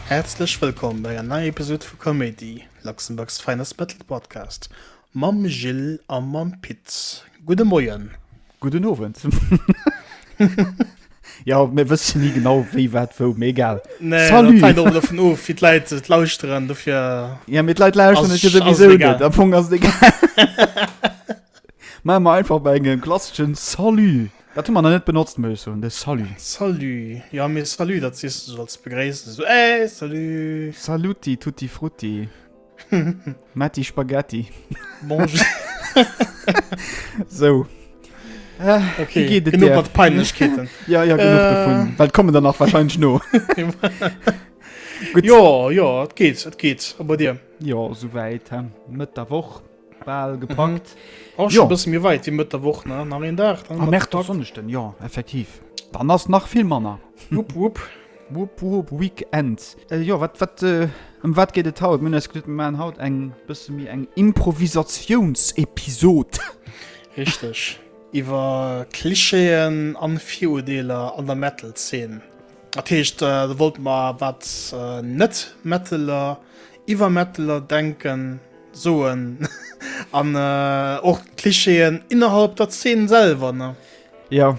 Häerzlech wëllkomm bei enger neier Episode vu Comédie, Luxembourg's Finest Metal Podcast. Mam Jill a mam Pit. Gudde Moien. Gudden Owend. Jo, mir wësse ni genau, wéi, wat, wou, mee egal. Nee, dat hänkt och dovun of, wéi d'Leit et lauschteren, dofir. Jo, mee d'Leit lauschteren et jo souwisou net, am Fong ass et egal. Maache mer einfach bei engem klasseschen Salut. Dat hu mer nach net benotzt, muss ech soen, de Salut. Salut. Jo, mee Salut, dat sees de sou als Begréissung, sou, Hey, salut. Saluti tutti frutti. Matti Spaghetti. Bonjour. so. Äh, okay, geht es genug hat Peinlichkeiten. ja, ja, genug äh. davon. Weil kommen dann auch wahrscheinlich nur. Gut. Ja, ja, es geht, es geht. Aber dir? Ja, soweit. Mit der Woche. Bal gepackt. Mhm. Och schon bësse méi weit wie Mëtt der Woch, ne? Nach een Dag, dann Am Märtoch Sonneschten, jo, effektiv. Dann ass nach vill manner. Wupp, wupp. Wupp, wupp, Weekend. Äh, jo, wat, wat, äh, ëm wat geet et haut? Mir hunn eis geduet, mir maachen haut eng bësse méi eng Improvisatiounsepisod. Richteg. Iwwer Klischeeën an Virudeeler an der Metal-Zeen. Dat heescht, do wollte mer wat Net-Metteler iwwer Metteler denken, soen an och d'Clichéen innerhalb der Zeen selwer, ne? Jo,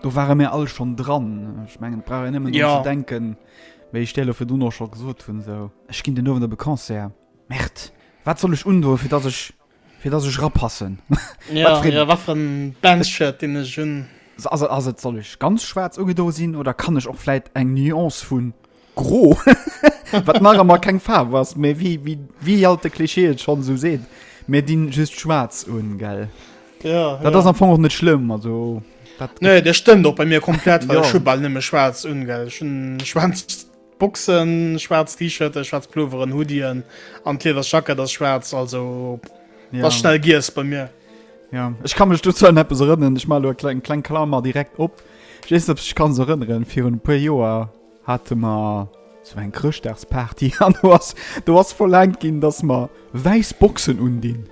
do ware mir all schonn dran. Ech mengen, et brauch een nëmmen drun ze denken, wéi ech dir elo virduno scho gesot hunn, esou, ech ginn den Owend op e Concert. Merde, wat soll ech undoen, fir dass ech Fir dass ech rapassen. Ja, ja wat fir en Bandshirt deen ech hunn. Also ass et soll ech ganz schwaarz ugedo sinn oder kann ech och vläit eng Nuance vun gro wat nach emmer keng Faarf ass méi wéi wéi wéi alt de Klischee et schonn esou seet. Mir dinn just schwaarz un, gell? Ja, Dat ass ja. am Fong och net schlëmm, also dat. Nee, dat stëmmt och bei mir komplett, well Ja. ech hu bal nëmme schwaarz un, gell? Ech hunn schwaarz Boxen, schwarz T-Shirten, schwarz Pulloveren, Hoodien an d'Lieders Jacket ass schwarz, also ja. was schnell gies bei mir. Ja, ich kann mich du zu etwas erinnern, ich mal klein, klein Klammer direkt op. Ich weiß ob ich kann erinnern für ein paar Joer hatte man so ein Christdagsparty an du hast du hast verlangt gin, dass man weiß Boxen undin.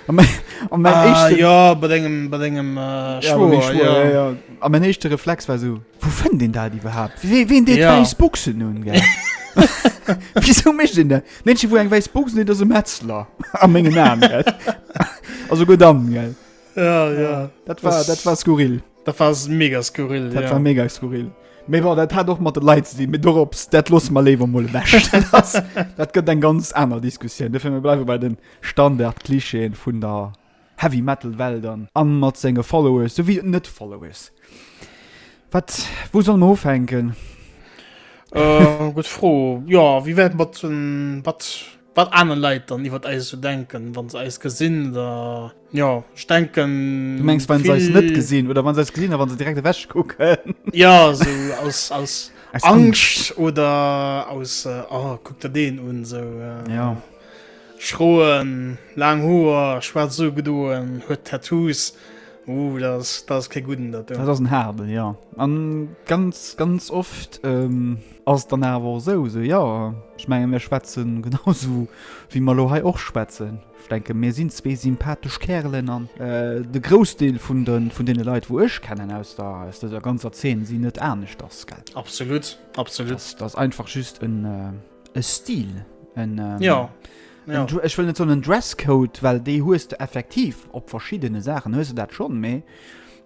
An mein, an mein ah, echte, ja, bei deinem, bei deinem, äh, ja, Schwur, ja. ja, ja. An mein echte Reflex war so, Wou fënnt een dat iwwerhaapt? Wee, ween deet Ja. wäiss Buchsen un, gell? Wisou mécht een dat? Mënschen, wou eng wäiss Buchsen huet, ass e Metzler. A mengen Aen, gell? A souguer dann, gell? Ja, ja. Dat war, Das- dat war skurril. Dat war s- mega skurril. Dat ja. war mega skurril. Mee bon, dat hat och mat de Leit ze dinn. Mee dorops, dat losse mer léiwer mol ewech. Dat, dat gëtt eng ganz aner Diskussioun. Dofir, mir bleiwe bei den Standard-Klischeeën vun der Heavy Metal Welt an. An mat senge Followers souwéi den net Followers. Wat, wou solle mer ufänken? Äh, gutt Fro. Jo, wéi wär et mat den, wat, wat aner Leit dann iwwert eis esou denken, wa se eis gesinn oder, jo, ech denken, vill. Du mengs wann se eis net gesinn oder wann se eis gesinn a wann se direkt ewech kucken? Jo, esou aus, aus Angscht oder aus, oh, kuck der deen un, esou. Jo. Schroen, laang Hoer, schwaarz ugedoen, huet Tattoos. Ooh, dat ass, dat ass kee gudden, dat do. Dat ass en haarden, jo. An ganz, ganz oft ass et dann awer och esou, esou, jo, ech menge mir schwätzen genau esou wéi mer elo hei och schwätzen. Ech denke mir sinn zwee sympathesch Kärelen an de Groussdeel vun de, vun deene Leit wou ech kennen aus der, aus dëser ganzer Zeen sinn net aneschters, gell. Absolut, absolut. Dat ass einfach just en, e Stil en, ähm, ja. Ja. En, ech wëll net so en Dresscode, well déi hues du effektiv op verschiddene Saachen hues du dat schon méi.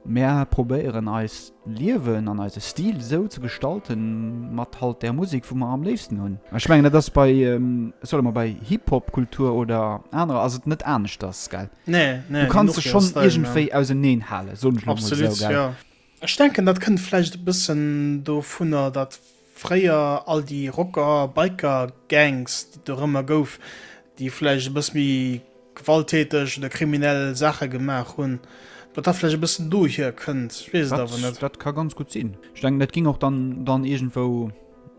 Mer probéieren eis Liewen an eise Stil sou ze gestalten mat halt der Musik, wou mer am léifsten hunn. Ech mengen dat ass bei ähm, solle mer bei Hip-Hop-Kultur oder anerer ass et net anescht ass gell. Nee, nee, du kannst se schon iergendwéi auserneen hale so Absolut, so, ja. Ech denken dat kënnt vläicht e bëssen dovunner dat Fréier all déi Rocker, Biker Gangs déi et dorëmmer gouf, déi vläicht e bëss méi gewalttäteg oder kriminell Saache gemaach hunn, datt dat vläicht e bëssen dohier kënnt, ech weess et awer net. Dat ka ganz gutt sinn. Ech denken dat géing och dann iergendwou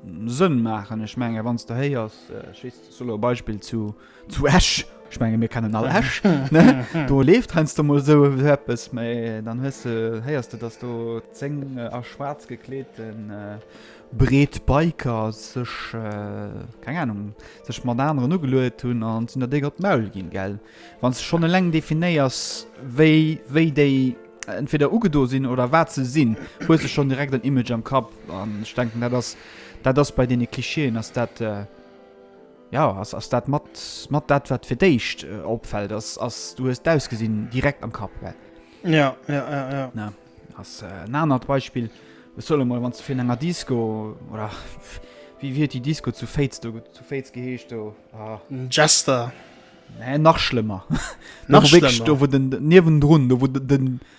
Sënn maachen. Ech mengen wann s de héiers, ech weess, soss elo e Beispill, zu. Zu Esch, ech menge mir kennen all Esch, do leeft heiansdo mol esou eppes, mä dann hues de, héiers de, datt do zéng a schwaarz gekleete Breetbiker sech, keng Anung, sech mat aneren ugeluet hunn an sinn der déck op d'Maul ginn, gell. Wann s de schonn eleng definéiers, wéi, wéi déi entweder ugedo sinn oder wat se sinn, hues de schonn direkt en Image am Kapp an ech denken, dat ass, dat ass bei deene Klischeeën ass dat, Jo, ass ass dat mat mat dat wat fir d'éischt opfält ass ass du hues d'Ausgesinn direkt am Kapp well. Ja ja ja ja. Na ass en anert Beispill ech solle mol wann ze fir enger Disco oder wie wier déi Disco zu Féiz do zu Féiz geheescht do ah. Jester. Nee, nach schlëmmer nach schlimmer. do wou den niewendrun do wou den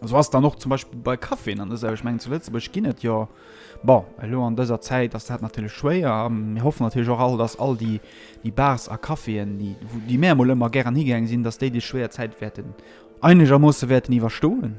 Esou ass et dann och zum Beispill bei Caféen an dëser, ech mengen zu Lëtzebuerg ginn et jo, bon elo an dëser Zäit ass dat natierlech schwéier a mir hoffen natierlech och all, datt all déi déi Bars a Caféen, déi wou déi mär emol ëmmer gären higaang sinn, datt déi déi schwéier Zäit wäerten einegermoosse wäerten iwwerstoen.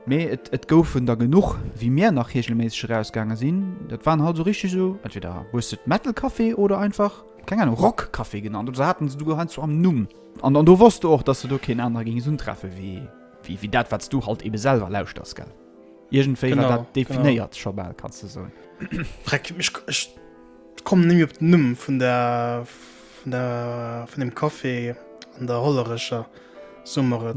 Mee et et goufen der genuch wéi mär nach reegelméisseg erausgaange sinn. Dat waren halt esou richteg esou entweder hues de et Metal Café oder einfach, keng Ahnung, Rock Café genannt oder se haten se souguer heiansdo am Numm. An do wosst du och, dass de do keen anere géings untreffe wéi dat, wat s du halt eebe selwer lauschters, gell? Iergendwéi war dat definéiert scho bal, kanns de soen. Breck, ech kommen nemme op den Numm vun der, vun der, vun deem Café an der Hollerecher Summer,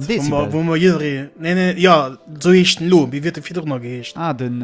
wou mer jidderee, nee, nee, jo, esou heescht en elo, wéi huet en virdrun nach geheescht? Ah, den.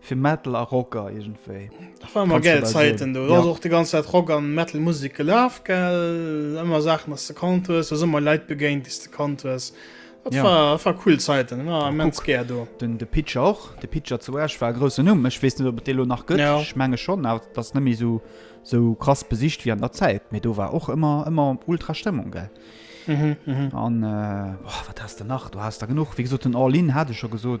Fir Metal a Rocker iergendwéi. Dat waren emmer gäil Zäiten do. Do ass och déi ganz Zäit Rock a Metal-Musek gelaf, gell. Ëmmer Saachen, déi s de kannt hues. Du bass ëmmer Leit begéint, déi s de kannt hues. Dat war cool Zäiten. Ech war immens gär do. Den De Pitcher och. De Pitcher zu Esch war e groussen Numm. Ech weess net, ob et dee lo nach gëtt. Ech menge schonn, awer dat ass net méi esou krass besicht wéi an der Zäit. Mee do war och ëmmer, ëmmer ultra Stëmmung, gell. An, oh, wat haass de nach? Do haass der genuch. Wéi gesot, den All In hat ech scho gesot.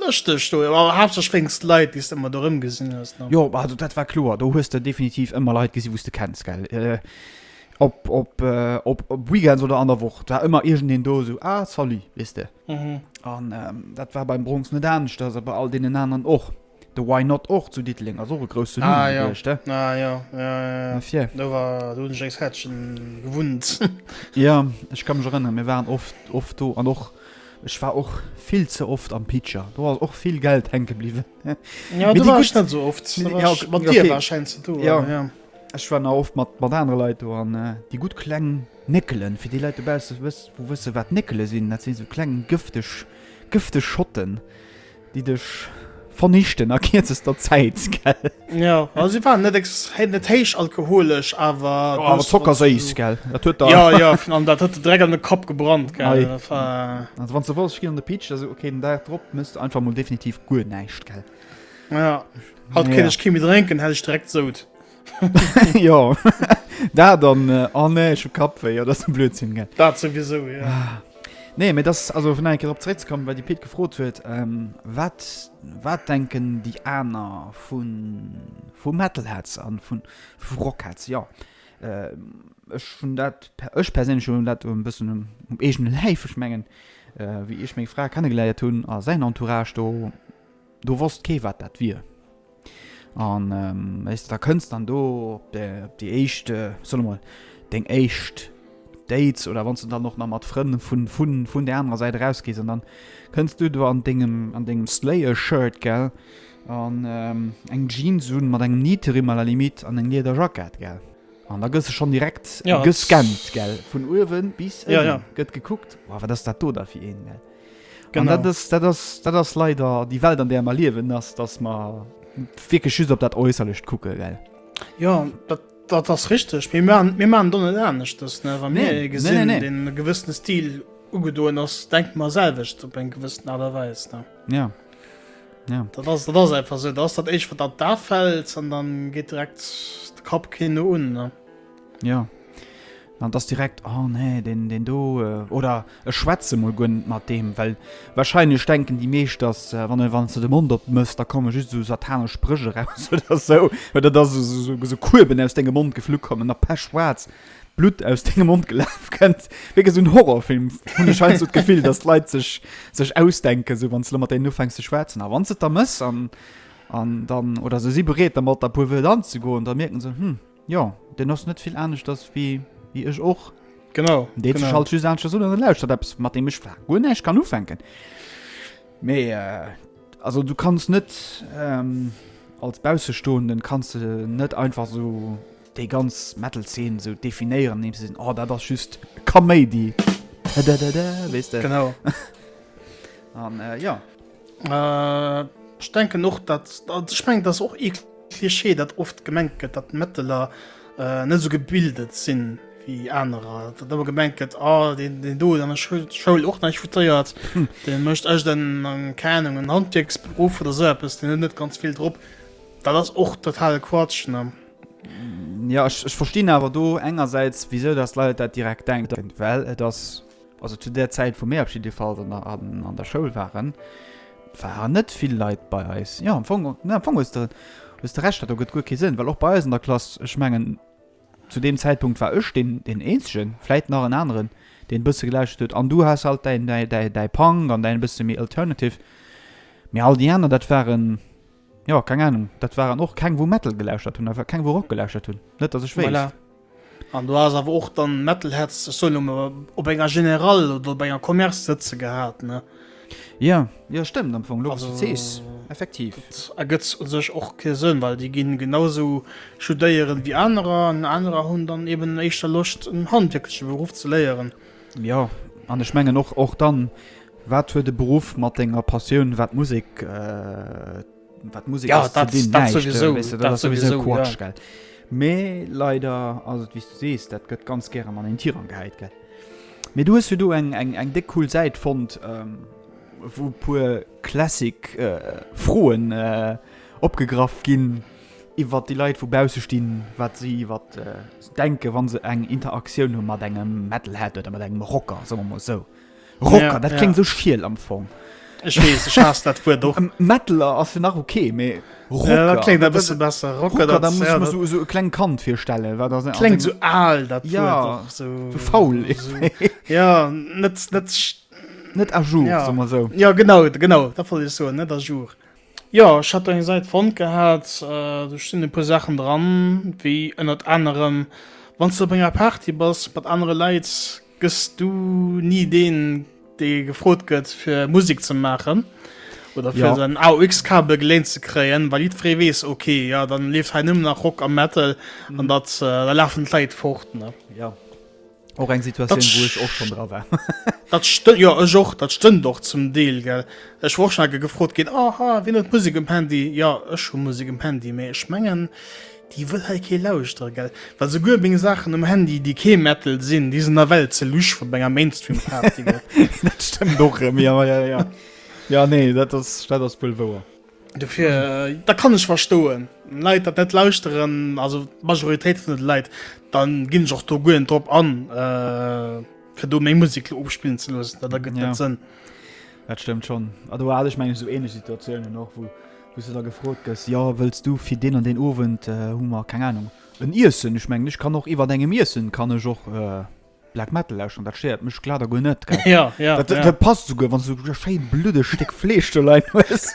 Lëschteg do, awer haaptsächlech wéinst Leit, déi s de ëmmer do erëmgesinn hues, ne? Jo, also dat war kloer, do hues de definitiv ëmmer Leit gesi wou s de kenns, gell? Op, op, op Weekends oder an der Woch, et war ëmmer iergendeen do, esou, ah, salut, weess de. An dat war beim Bronx net aneschters a bei all deenen aneren och. De Why Not och zu Diddeleng, ass och e grousse Numm gewiescht, de. Ah, jo, ah, jo, jo, jo, jo, jo, do war, do hunn ech enges Häertchen gewunnt. Jo, ech ka mech erënneren, mir waren oft, oft do an och. Ech war och vill ze oft am Pitcher, do ass och vill Geld hänke bliwwen. Ja, do war ech net esou oft, mat dir war schein ze do. Ja. Ech war na oft mat mat anere Leit do an déi gutt kleng Néckelen, fir déi Leit dobausse wëss wou wësse wat Néckele sinn, dat si sou kleng gëfteg gëfteg Schotten. déi dech vernichten a kierzester Zäit, gell? Jo, also si waren net ex-, hate net héich alkoholesch, awer. Oh, awer dës zockerséiss, Wodka. gell? Dat huet der. Jo, jo, fin-, an dat huet der direkt an de Kapp gebrannt, gell? Hei. Dat war. Also wann s de wolls, ech ginn an de Pitch, also okay, den Dag drop mëss de einfach mol definitiv guer näischt, gell? Ja, haut kéint ech kee méi drénken, hätt ech direkt sout. Jo dat an an nee ech hu Kappwéi, dat ass Blödsinn gell. Dat souwiesou jo. Nee mee dass also fir nach eng Kéier drop zréckzekommen, wat de Pit gefrot huet, wat wat denken déi aner vu vu Metalheads a vu vu Rockheads? Jo ech hunn dat per ech perséinlech hunn dat e bëssen um um eegene Läif. Ech mengen wéi ech meng Fra kennegeléiert hunn a säin Entourage do, Do wosst kee wat dat wier. An wéis de da kënns dann do op déi éischt, solle mol deng éischt Dates oder wann du dann och nach mat Frënn vun vun vun där anerer Säit erausgees an dann kënns du do an dengem an dengem Slayer-Shirt, gell, an eng Jeans un mat engem Nietering à la limite an eng Lieder Jackett, gell. An da gëss de schonn direkt gescannt, gell, vun uewen bis ënnen gëtt gekuckt, Wow, wat ass dat do da fir een, gell. An dat ass, dat ass, dat ass leider déi Welt an där mer liewen, ass datt mer wierklech just op dat Äusserlecht kucke well. Jo dat dat ass richteg. Mee mer mir man do net aneschtes ne wa mir ee gesinn e gewëssene Stil ugedoen ass, denkt mer selwecht op eng gewëssen Aart a Weis ne. Ja. Ja dat ass dat ass einfach sou, dat ass dat éischt wat an d'A fält an dann geet direkt de Kapp keen no un ne. Jo. An dass direkt, oh nee, deen, deen do, oder ech schwätze mol guer net mat deem, well wahrscheinlech denken déi meescht, dass wann e, wann s de de Mond opmëss, da komme just esou satanesch Spréch eraus oder esou, oder dass esou, esou Kueben aus dengem Mond geflu kommen a pechschwaarz Blutt aus dengem Mond gelaf kënnt. Wierklech esou en Horrorfilm, hunn ech heiansdo d'Gefill, dass d'Leit sech, sech ausdenken, esou wann s de mat deenen ufänks ze schwätzen. A wann s de et da mëss an, an dann, oder se si bereet dermat, e puer Wëert anzegoen, da mierken se, hm. Jo, deen ass net vill aneschters wéi ech och. Genau. Deen huet sech halt just aneschters un an e lauschtert eppes, mat deem ech zwar guer näischt kann ufänken. Mee, also du kanns net, als Baussestoenden kanns de net einfach esou déi ganz Metal-Zeen esou definéieren, andeems de sees, oh dat ass just Kaméidi, dadadada, weess de. Genau. An, jo. Äh, ech denken och, dat ech meng dat och e Klischee, dat oft gemengt gëtt, dat Mëtteler äh, net so gebildet sinn wéi anerer. Dat awer gemengt gëtt a ah, den, den do an der Schoul, Schoul och neich futéiert, hm. den mëcht ech den an Kanung en Handwierksberuf oder se so den net ganz vill drop. Dat ass och total Quatsch. Ne? Ja, ich, ich verstehe aber do engerseits wieso das Leute dat direkt denken, well et das Also zu där Zäit, wou mir op jidde Fall dann an der Schoul waren, waren net vill Leit bei eis. Jo, am Fong, jo, am Fong hues de, hues de Recht, dat do gëtt guer kee Sënn, well och bei eis an der Klass, ech mengen, zu deem Zäitpunkt war ech deen, deen Eenzegen, vläit nach en aneren, deen e bësse gelauschtert huet, an du has halt däin, däi, däi, däi Punk an däin e bësse méi alternative, mee all déi aner, dat waren, Jo, keng Ahnung. Dat waren och keng, wou Metal gelauschtert hunn, awer keng, wou Rock gelauschtert hunn. Net, datt ech wéisst. Voilà. An do ass awer och dann Metalheads, ech soen elo mol, op enger General oder op enger Commerce sëtze gehat, ne? Jo, jo, stëmmt am Fong, elo wou s de et sees. Effektiv. Dat ergëtt u sech och kee Sënn, well déi ginn genausou studéieren, wéi anerer. An anerer hunn dann eben éischter Loscht, en handwierkleche Beruff ze léieren. Jo, an ech mengen och, och dann, wat huet e Beruff mat denger Passioun, wat Musek, wat Musek ass, ze dinn? Näischt, wéi se, weess de, dat ass souwisou Quatsch, gell? Mee leider ass et, wéi s du sees, dat gëtt ganz gären an een Tirang gehäit, gell? Mee du hues jo do eng, eng, eng déck cool Säit fonnt, wou e puer classic Froen opgegraff ginn. iwwert déi Leit vu bausse stinn, wat si iwwer se denken, wa se eng Interaktioun hu mat engem Metalhead oder mat engem Rocker, soe mer emol esou. Rocker, ja, dat ja. kling sou schiel am Fong. Ech wees, ech haas dat Wuert och. Metaler ass jo nach okay, mee Rocker, ja, dat klingt e bësse besser. Rocker, Rocker da muss ja, so, so e kleng Kand virstellen, wat dat klingt so al, dat ja, Wuert och so, so faul. So, ja, net net net à jour, ja. soe mer esou. Ja genau, genau, dat wollt ech soen, net à jour. Jo, ech hat do eng Säit fonnt gehat, do stinn e puer Saachen dran, wéi ënnert anerem, Wann s de op enger Party bass mat anere Leit, gëss du ni deen, dee gefrot gëtt fir Musek ze maachen oder fir säin AUX-Kabel geléint ze kréien, well jiddweree weess, ok, jo, da leeft hei nëmmen nach Rock a Metal an da lafen d'Leit fort. Och eng Situation dat, wo ech och schon dra war. dat stënnt jo ech och dat stënnt och zum Deel gell. Ech woch schon ge gefrot ginn aha wien huet Musik um Handy ja ech hu Musik um Handy mee ech mengen déi wëll hei kee lauschtere gell. Well souguer meng Saachen um Handy déi kee Metal sinn déi sinn nawell ze lusch fir op enger Mainstream Party. Dat stëmmt och erëm jo jo jo. Jo nee dat ass dat ass wuel wouer. Dofir da kann ech verstoen Leit dat net lauschteren, also d'Majoritéit vun de Leit, dann ginn ech och do guer net drop an äh, fir do meng Musek lo ofspillen ze loossen, dat ergëtt net Sënn. Dat stëmmt schonn. A do hat ech meng ech esou ähnlech Situatiounen och, wou wou s du da gefrot gëss, jo wëlls du fir deen an deen Owend, hu mer keng Ahnung en Iessen, ech mengen ech kann och iwwert engem Iessen kann ech och. Black Metal lauschteren, dat stéiert mech glat a guer net, gell? Ja, ja, dat, ja. dat passt esouguer, wann du e schéi bluddeg Stéck Fleesch do leien hues.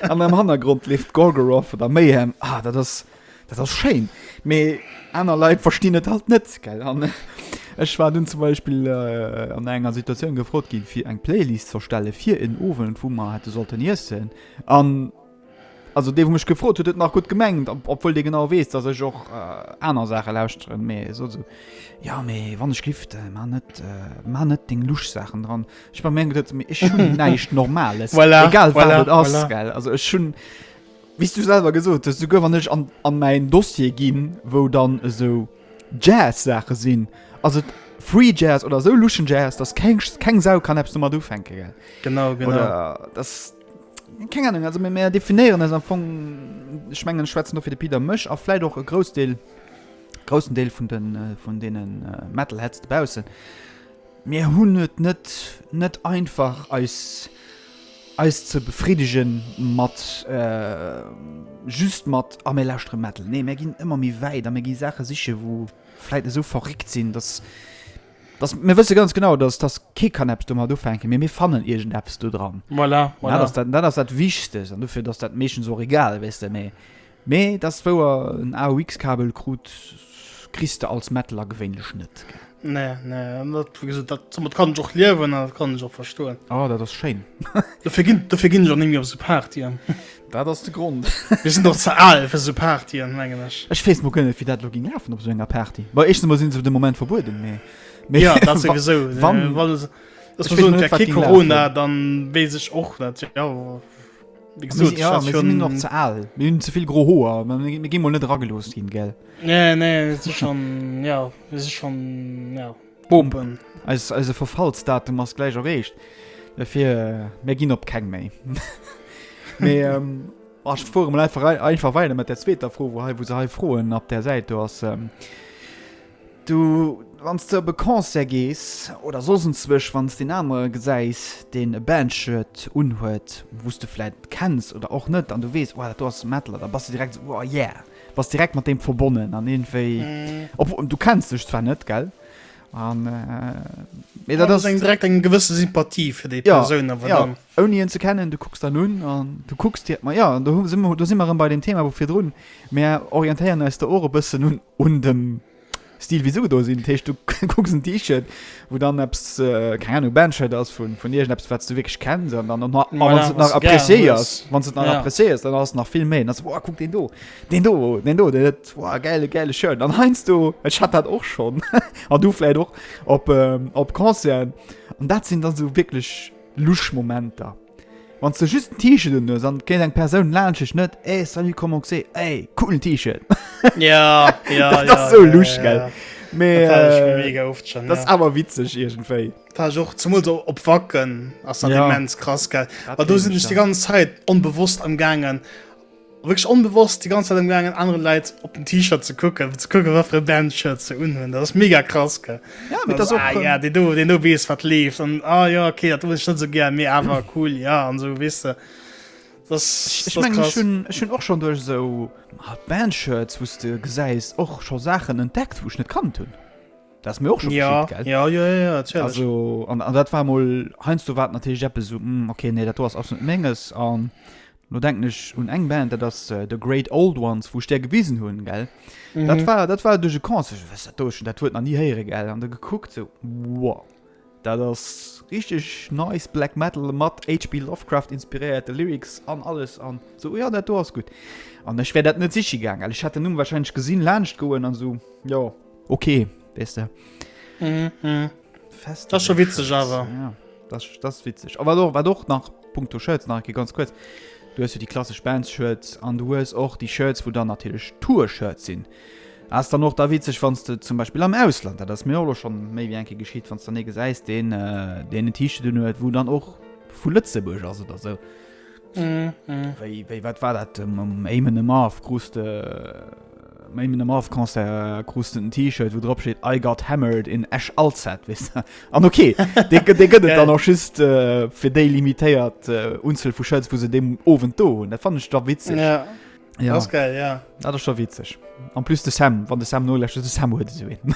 An am Hannergrond leeft Gorgoroth oder Mayhem. Ah, dat ass, dat ass schéin. Mee aner Leit verstinn et halt net, gell? An ech war dunn zum Beispill äh, an enger Situatioun gefrot ginn, fir eng Playlist z'erstelle fir en Owend, wou mer hätte sollten iessen. An Also dee wou mech gefrot huet huet nach gutt gemengt, obwuel dee genau weess dass ech och aner Saache lauschteren, mee sot esou, jo mee wann ech giff, da mar net mar net deng lusch Saachen dran. Ech war meng geduet, mee ech hunn näischt normales, egal wat et ass well, also ech hunn wéi s du selwer gesot hues, souguer wann ech an an mäin Dossier ginn wou dann esou Jazz Saache sinn, ass et free Jazz oder esou luschen Jazz dass keng keng Sau kann eppes domat ufänke gell. Genau, genau. Oder dass. Keng Ahnung, also mir, mir definéieren eis am Fong, ech mengen, ech schwätzen do fir de Pit a mech a vläicht och e Groussdeel, groussen Deel vun den, vun deene Metalheads dobaussen, mir hunn et net, net einfach, eis, eis ze befriddege mat, just mat, ah mir lauschtere Metal. Nee, mir ginn ëmmer méi wäit a mir gi Saache siche wou vläicht esou verréckt sinn, datt, Dass, mir wësse ganz genau, dass, dass kee kann eppes domat ufänken, mee mir fannen iergendeppes do dran. Voilà, voilà. Dat ass dat, dat ass dat Wichtegst. An dofir ass dat meeschtens och egal, weess de. Mee, mee dass wou er en AUX-Kabel krut, kriss de als Metteler gewéinlech net. Nee, nee, an dat, wéi gesot, dat, domat kann ech och liewen an dat kann ech och verstoen. Oh, dat ass schéin. Dofir ginn, dofir ginn ech och ni méi op esou Partyen. Dat ass de Grond. Mir sinn och ze al fir sou Partyen, mengen ech. Ech weess mol guer net, wéi dat elo géing lafen op esou enger Party. Bon, éischtens emol si se fir de Moment verbueden, mee, mee. Jo, dat souwisou. Wann. Wa se, wa se soen, et wär kee Corona, da weess ech och net, jo. Wéi gesot, ech hat schonn. Mir sinn och ze al. Mir hunn ze vill gro Hoer. Mir gi mol net eragelooss ginn, gell? Nee, nee, et si schonn, jo, et si schonn, jo. Boom! Eise Verfallsdatum ass gläich erreecht. Dofir mir ginn op keng méi. Mee ech fuere mol einfach weider mat der zweeter Fro, wou hei wou se hei froen op där Säit do ass. Du wann s de op e Concert gees oder soss enzwousch, wann s de en anere gesäis, deen e Band-Shirt unhuet, wou s de vläicht kenns oder och net an du weess, oh dat do ass Metal, da bass de direkt esou, oh yeah! Bass direkt mat deem verbonnen an iergendwéi, obwuel du kenns dech zwar net, gell? An, mee dat ass. Eng direkt eng gewësse Sympathie fir déi Persoun awer dann. Jo, jo, ouni hien ze kennen, du kucks dann un an du kucks dir, ma jo, an do hu si mer, do si mer erëm bei deem Thema vu virdrun, mär orientéieren eis do och e bëssen un dem. Stil wéi se ugedo sinn. Dat heescht, du kucks en T-Shirt, wou dann eppes, keng Ahnung, e Band-Shirt ass vun, vun iergendeppes, wat s de wierklech kenns. An dann, a wa s de et nach appreciéiers, wa s de et nach appreciéiers, dann ass et nach vill méi. Dann se, Wow, kuck deen do, deen do, deen do, deen huet, wow, gäile, gäile Shirt. An heiansdo, ech hat dat och schonn, an du vläicht och, op, op Concerten. An dat sinn dann esou wierklech Lusch-Momenter. Wanns de just en T-Shirt un hues an kennt eng Persoun laanscht dech net ey salut comment c'est ey coolen T-Shirt Ja, ja, Dat ja, ass sou ja, lusch, ja, gell? ja. Mee Dat war schon äh, mega oft schon, dat ass ja. awer witzeg iergendwéi. War ech och zumol so op Wacken ass dann Ja. immens krass gell. Dat Wa do kenn sinn ech ech die dann. ganz Zäit onbewosst am gaangen Wierklech onbewosst déi ganz Zäit am gaangen anere Leit op den T-Shirt ze kucken, fir ze kucken wat fir e Band-Shirt se unhunn. Dat ass mega krass gell. Ja, mee dat ass och, ah ja, deen do, deen do weess wat leeft an ah ja okay, dat hues ech net esou gär, mee awer cool ja an esou weess de. Ech mengen ech hunn, ech hunn och schonn duerch esou Band-Shirts wou s de gesäis och scho Saachen entdeckt wou ech net kannt hunn. Dat ass mir och scho geschitt gell. Jo jo jo jo natierlech. Also an dat war emol heiansdo war et natierlech eppes esou, hm okay nee dat do ass absolut net menges an Lo denken ech un eng Band, dat ass The Great Old Ones, wou ech där gewisen hunn, gell? Mhm. Dat war, dat war duerch e Concert, was dat do schon, dat Wuert nach nie héiere, gell? An da gekuckt, so, wow, dat ass richtig nice Black Metal mat HP Lovecraft inspiréierte Lyrics an alles an so, ja, dat do ass gutt. An ech wär dat net siche gaangen, ech hätt den Numm wahrscheinlech gesinn, laanscht goen an so, jo, Okay, wees du. Mhm, mhm. Fest. Das ist schon witzig, aber. Ja, das, das ist witzig. Aber doch, war doch nach Punkto Shirts, nach ganz kurz. Du hast ja die klassische Bands-Shirts und du hast auch die Shirts, wo dann natürlich Tour-Shirts sind. Hast dann noch da witzig, wenn du zum Beispiel am Ausland, das ist mir auch schon mehr wie ein bisschen geschieht, wenn du dann nicht siehst, den, äh, den T-Shirt, wo dann auch von Lützeburg, also oder so. Wéi, wéi, wat war dat um, um Eamon Amarth krus de um Eamon Amarth Concert krus den T-Shirt, wou drop steet I got hammered in Esch Alzette, weess de? An okay, dee gëtt dee gëtt et dann och just äh, fir déi limitéiert äh, Unzuel vu Shirts, wou se deem Owend do hunn. Dat fannen ech da witzeg. Ja, Ja, das ist geil, ja. dat ass scho witzeg. An plus de Sam, wann de Sam noläscht, de Sam huet esou een.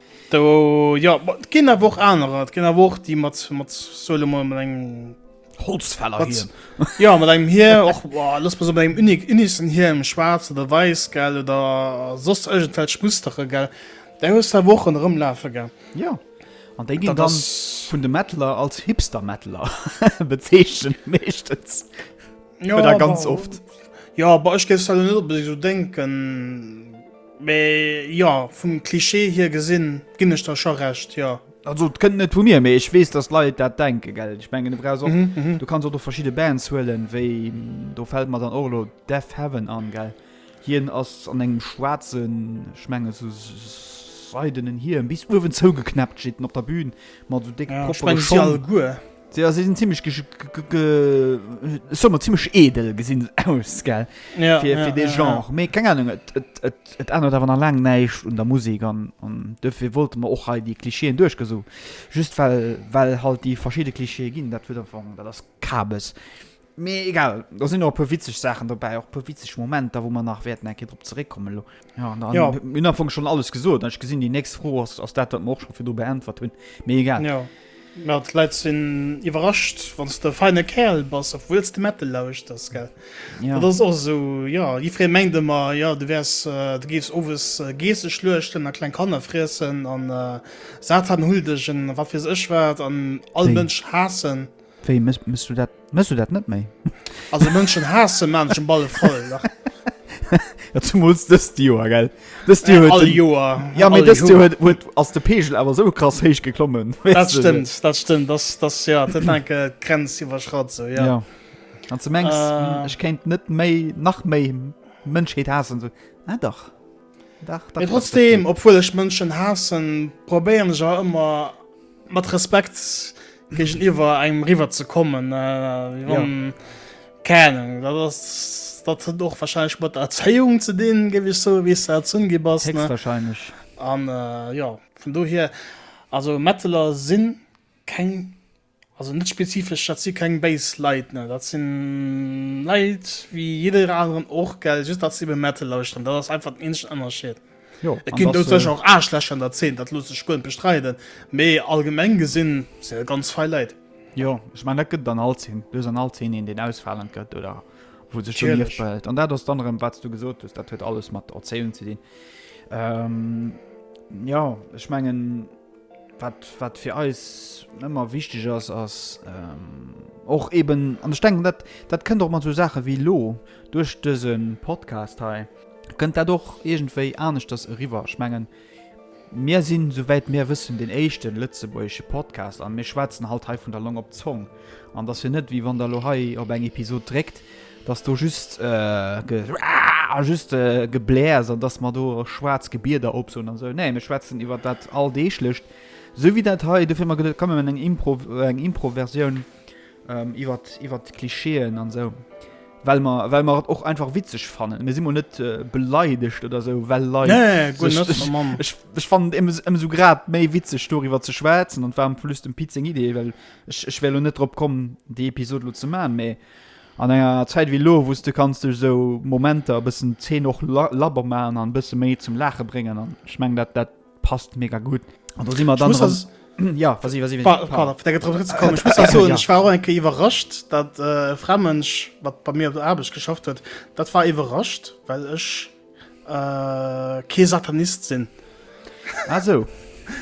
Do, jo, et ginn awer och anerer. Et ginn awer och déi mat, mat, soe lo mol, mat engem. Holzfäller hie. Jo, mat engem Hie, och, looss mol soen, mat engem unique, unissen Hie, engem schwaarz oder wäiss, gell, oder soss iergendwelch Mustere, gell. Där hues de awer och ronderëm lafe, gell. Jo. An déi ginn dann vun de Metaller als Hipster-Metaller bezeechent, meeschtens. Jo, awer. Oder ganz oft. Jo, awer ech géif se lo net onbedéngt esou denken. Mä jo, vum Klischee hier gesinn, ginn ech der scho Recht, jo. Also et kënnt net vu mir, mee ech weess, datt Leit dat denken, gell? Ech mengen, du brauchs och, du kanns och do verschidde Bands huelen, wéi, do fält mer dann och elo Deafheaven an, gell? Hien ass an engem schwaarzen, ech mengen esou seidenen Hiem, bis uewen zougeknäppt, steet en op der Bühn mat esou décke Proppe. Ech menge si alleguer. Ja se sinn zimlech ge ge ge soe mer zimlech edel gesinn se aus gell ja, fir, ja, fir de ja, Genre ja. méi keng Ahnung et, et, et, et ännert awer nach laang näischt un der Musik an an dofir wollte mer och hei déi Klischeeën duerchgesu just well well halt déi verschidde Klischeeë ginn dat huet einfach dat ass Kabes. Mee egal, do sinn och e puer witzeg Saachen dobäi, och e puer witzeg Momenter, wou mer nach wäerten eng Kéier drop zeréckkommen elo. Ja, an dann ja. hun am Fong schonn alles gesot. Ech gesinn déi nächst Fro ass ass dat, wat mer och scho virdu beäntwert hunn. Mee egal. Ja. Mä d'Leit sinn iwwerrascht, wann s de e feine Kerl bass, obwuel s de Metal lauschters, gell? Ja. Dat ass och esou, ja, jiddweree mengt ëmmer, ja, du wäers, du géifs owes Geesse schluechten a kleng Kanner friessen an Satan hull dech an wat weess ech wat an all Déi. Mënsch haassen. Wéi, mëss du dat, mëss du dat net méi? Also Mënschen haassen maanchen Balle voll, dach. Ja zumools dëst Joer, gell? Dëst Joer huet den. All Joer. Ja mee dëst Joer huet, huet, ass de Peegel awer esou krass héich geklommen. Dat stëmmt, dat stëmmt, dass, dass, ja, dat war enke d'Grenz iwwerschratt, sou, ja. Ja. An ze mengs, ech kéint net méi, nach méi Mënschheet haassen, sou. Ah dach. Dach, dach. Mee trotzdeem, obwuel ech Mënschen haassen, probéieren ech awer ëmmer, Mat Respekt géigen iwwer engem riwwer ze kommen kennen dat ass dat hunn och wahrscheinlech mat der Erzéiung ze dinn, géif ech soe wéi s de erzunn gi bass wahrscheinlech an jo vun do hier also Metaller sinn keng also net spezifesch dat si keng béis Leit ne dat sinn Leit wéi jiddereen aneren och gell just dat se ebe Metal lauschteren dat ass einfach den eenzegen Ënnerscheed. Jo, et ginn do sech och Aarschlächer an der Zeen, dat loosse ech guer net bestreiden, mee allgemeng gesinn sinn et ganz fei Leit. Jo, ech mengen dat gëtt et an all Zeen, do ass an all Zeen een, deen ausfalend gëtt oder wou sech do Lieft behält. An dat ass dann erëm, wat s du gesot hues, dat huet alles mat Erzéiung ze dinn. Jo, ech mengen. Wat fir eis ëmmer wichteg ass, ass och eeben, an ech denken, dat kënnt och mat esou Saache wéi elo duerch dëse Podcast hei, kënnt dat och iergendwéi aneschters eriwwer. Ech mengen, mir sinn, souwäit mir wëssen, deen éischte lëtzebuergesche Podcast a mir schwätzen halt hei vun der Long op d'Zong. An et ass jo net, wéi wann Der elo hei op eng Episod dréckt, dass do just ge a just Geblär ass an dass mer do schwaarz Gebieder opsoen an sou. Nee, mir schwätzen iwwer dat Alldeeglecht, sou wéi dat hei, dofir mer geduet, komm mir man eng Impro, eng Impro-Versioun iwwer iwwer d'Klischeeën an sou, well mer well mer et och einfach witzeg fannen. Mir si mol net beleidegt oder sou, well Leit sech, ech ech fannen et ëmsou grad méi witzeg doriwwer ze schwätzen an et war am plus dem Pit seng Idee, well ech ech wär elo net drop komm déi Episod elo ze man, mee An enger Zäit wéi elo, wou s de kanns duerch esou Momenter e bëssen d'Zeen och labber maachen an e bësse méi zum Laache bréngen. An ech mengen, dat dat passt mega gutt. An do si mer dann erëm. Jo, vas-y, vas-y, vas-y. Pa-, pardon, fir deng Intervention zerëckzekommen. Ech muss nach soen, ech war och eng Kéier iwwerrascht, dat e Framënsch, wat bei mir op der Aarbecht geschafft huet, dat war iwwerrascht, well ech. Äh, kee Satanist sinn. Ah, so.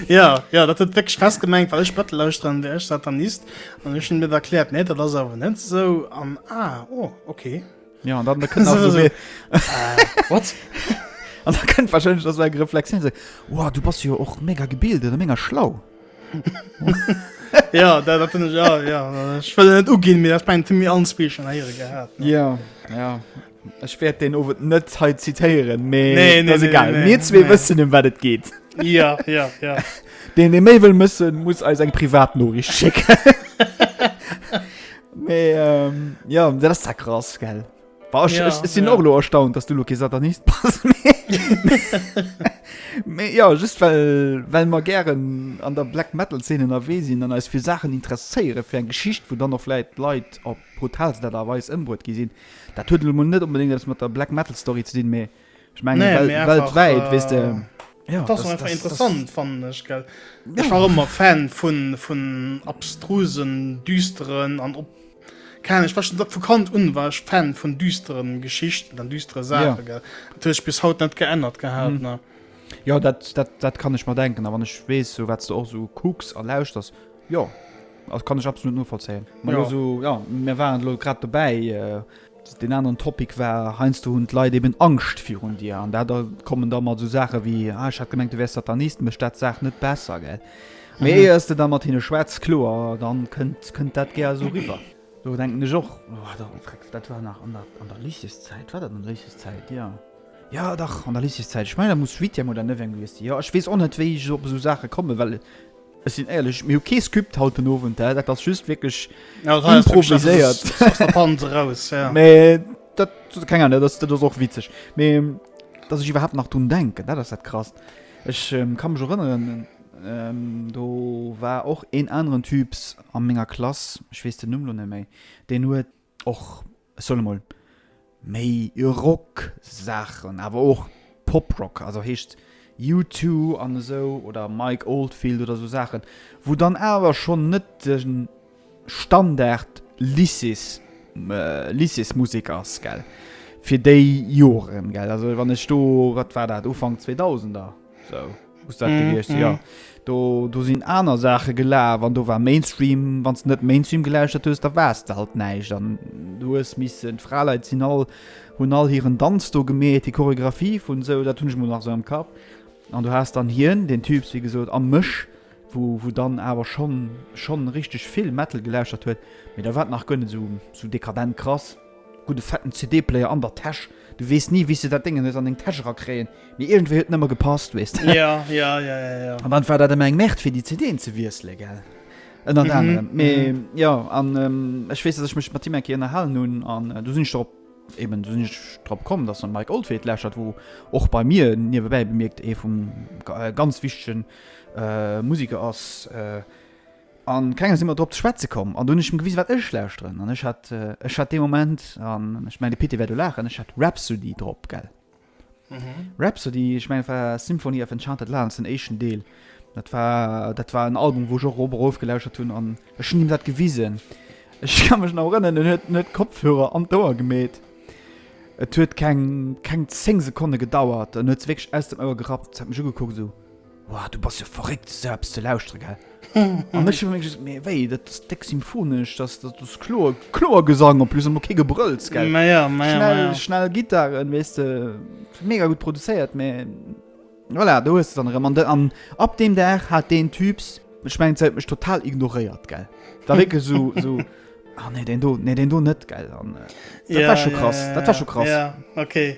ja, ja, dat huet wéck Stress gemengt, well ech Bëttel lauschteren, wär ech Satanist. An ech hun mir erkläert, nee, dat ass awer net sou an ah, oh, okay. Ja, an dann kënnt so, so, äh, wat? An da kënnt wahrscheinlich dat eng Reflexioun se wow, du bass jo ja och mega gebildet a mega schlau. ja, da, dat ich, ja, ja. ich net ugin mir mir anspichen ja, ja. Ech wäert deen Owend net hei zitéieren, mee nee, nee, nee, egal. Nee, nee, Mir zwee nee. wëssen, em wat et geet. Ja, ja, ja. Deen e méi wëll mëssen, muss eis eng Privatnoricht schécken. mee, ähm, ja, dat ass da krass, gell? War ech, ja, ech, ech sinn ja. och lo erstaunt, dass du lo ke Satanist pass. Mee, ja, just well, well mer gären an der Black Metal Szene ënnerwee sinn an eis fir Saachen interesséiere fir eng Geschicht, wou dann och vläit d'Leit op Brutalst Art a Weis ëmbruet gi sinn. Dat huet elo mol net onbedéngt eppes mat der Black Metal Story ze dinn, mee ech mengen, Nee, wel, mee einfach, weltwäit, weess de. äh, Ja, Dat ass och einfach interessant, fannen ech, gell. Ech war ëmmer Fan vun, vun abstrusen, düsteren an op, keine Ahnung, ech war schon vu Kand un war ech Fan vun düsteren Geschichten an düstere Ja. Saachen, gell. Dat huet sech bis haut net geännert gehat, Mhm. ne. Ja, dat, dat, dat kann ech mer denken. A wann ech weess, sou wat s de och sou kucks a lauschters, Jo, also kann ech absolut novollzéien. Ma lo sou, jo, mir waren elo grad dobäi, deen aneren Topic war, heiansdo hunn d'Leit eben Angscht virun dir an dat, da kommen da mat sou Saache wéi, ah, ech hat gemengt, du wäers Satanist, mécht dat d'Saach net besser, gell. Mee éier s de da mat hinne schwätz, kloer, da kënnt, kënnt dat gär esou eriwwer. Do denken ech och, oh, da frecks, dat war nach an der, an der Lycéeszäit, war dat an der Lycéeszäit, jo, jo dach, an der Lycéeszäit, ech mengen, da muss Huitième oder Neuvième gewiesst sinn, jo, ech weess och net, wéi ech op esou Saache kommen, well. Ech sinn éierlech, mir hu kee Skypt haut den Owend, hä? Dat ass just wierklech improviséiert. Mee dat sot keng Ahnung, dat ass och witzeg. Mee datt ech iwwerhaapt nach drun denken, dat ass dat Krasst. Ech ka mech erënneren, do war och een aneren Typs a menger Klass, ech weess den Numm elo net méi, deen huet. Och, ech soen emol, méi Rock-Saachen, awer och Pop-Rock, also heescht U2 an esou oder Mike Oldfield oder esou Saachen, wou dann awer schonn net de Standard Lycées, Lycéesmusek ass, gell, fir déi Joren, gell. Also wann ech do, wat war dat, Ufank Zweedausender? So, muss dat mm, gewiescht mm. ja. Do, do sinn aner Sache gelaf an do war Mainstream, wann net Mainstream geläuschtert hues, da wars der halt neiich an du hues missen d Fraleit sinn all hunn all hiieren Danz do gemet, die Choreografie vun sou dat hunn mo nach so am Kap. An du hast dann hien den Typs wie gesot am Mëch, wo, wo dann awer schon schon richtig vill Metal geläuschtert huet, mit der wat nach gënne so, so dekadent krass. Gudde fetten CD-Player an der Täsch. Du weess ni, wéi s de dat Déngen hues an deng Täsch erakréien, mee iergendwéi huet en ëmmer gepasst, weess de. Ja, ja, ja, ja, ja. An dann war dat ëmmer eng Merde, fir déi CDen ze wiesselen, gell, ënnert anerem. Mee jo, an ech weess, datt ech mech mat him eng Kéier ënnerhalen hunn an do sinn ech drop, eben do sinn ech drop komm, datt en Mike Oldfield lauschert, wou och bei mir, niewebäi bemierkt, ee vum ganz wichtegen Musiker ass, A kengem si mer drop ze schwätze komm. An du hunn ech em gewisen, wat ech lauschteren. An ech hat, ech hat dee Moment, an ech mengen, de Pit, dee wäert elo laachen, ech hat Rhapsody drop, gell? Rhapsody, ech mengen, dat war Symphony of Enchanted Lands, den éischten Deel. Dat war, dat war en Album, wou ech och rof erof gelauschtert hunn. An ech hunn him dat gewisen. Ech ka mech nach erënneren, en huet, en huet d'Kopfhörer an d'Ouer gemeet. Et huet keng, keng zéng Sekonne gedauert, en huet se wierklech aus dem Ouer gerappt, hat mech ugekuckt, esou. Woah, du bass jo verréckt esou eppes ze lauschtere gell? An ech hun just, mee wéi, dat ass déck symphonesch, dat ass, dat ass kloer, kloer Gesang en plus, an och kee Gebrëlls gell? Maja, maja, schnell, maja. Schnell Gittaren, weesste, mega gutt produzéiert, mee voilà, do hues de dann erëm. An de, an ab deem Dag hat deen Typs, ech mengen se huet mech total ignoréiert gell, war wierklech esou, esou, ah nee deen do, nee deen do net gell, an dat war scho krass, dat war scho krass. Ja, ja, okay.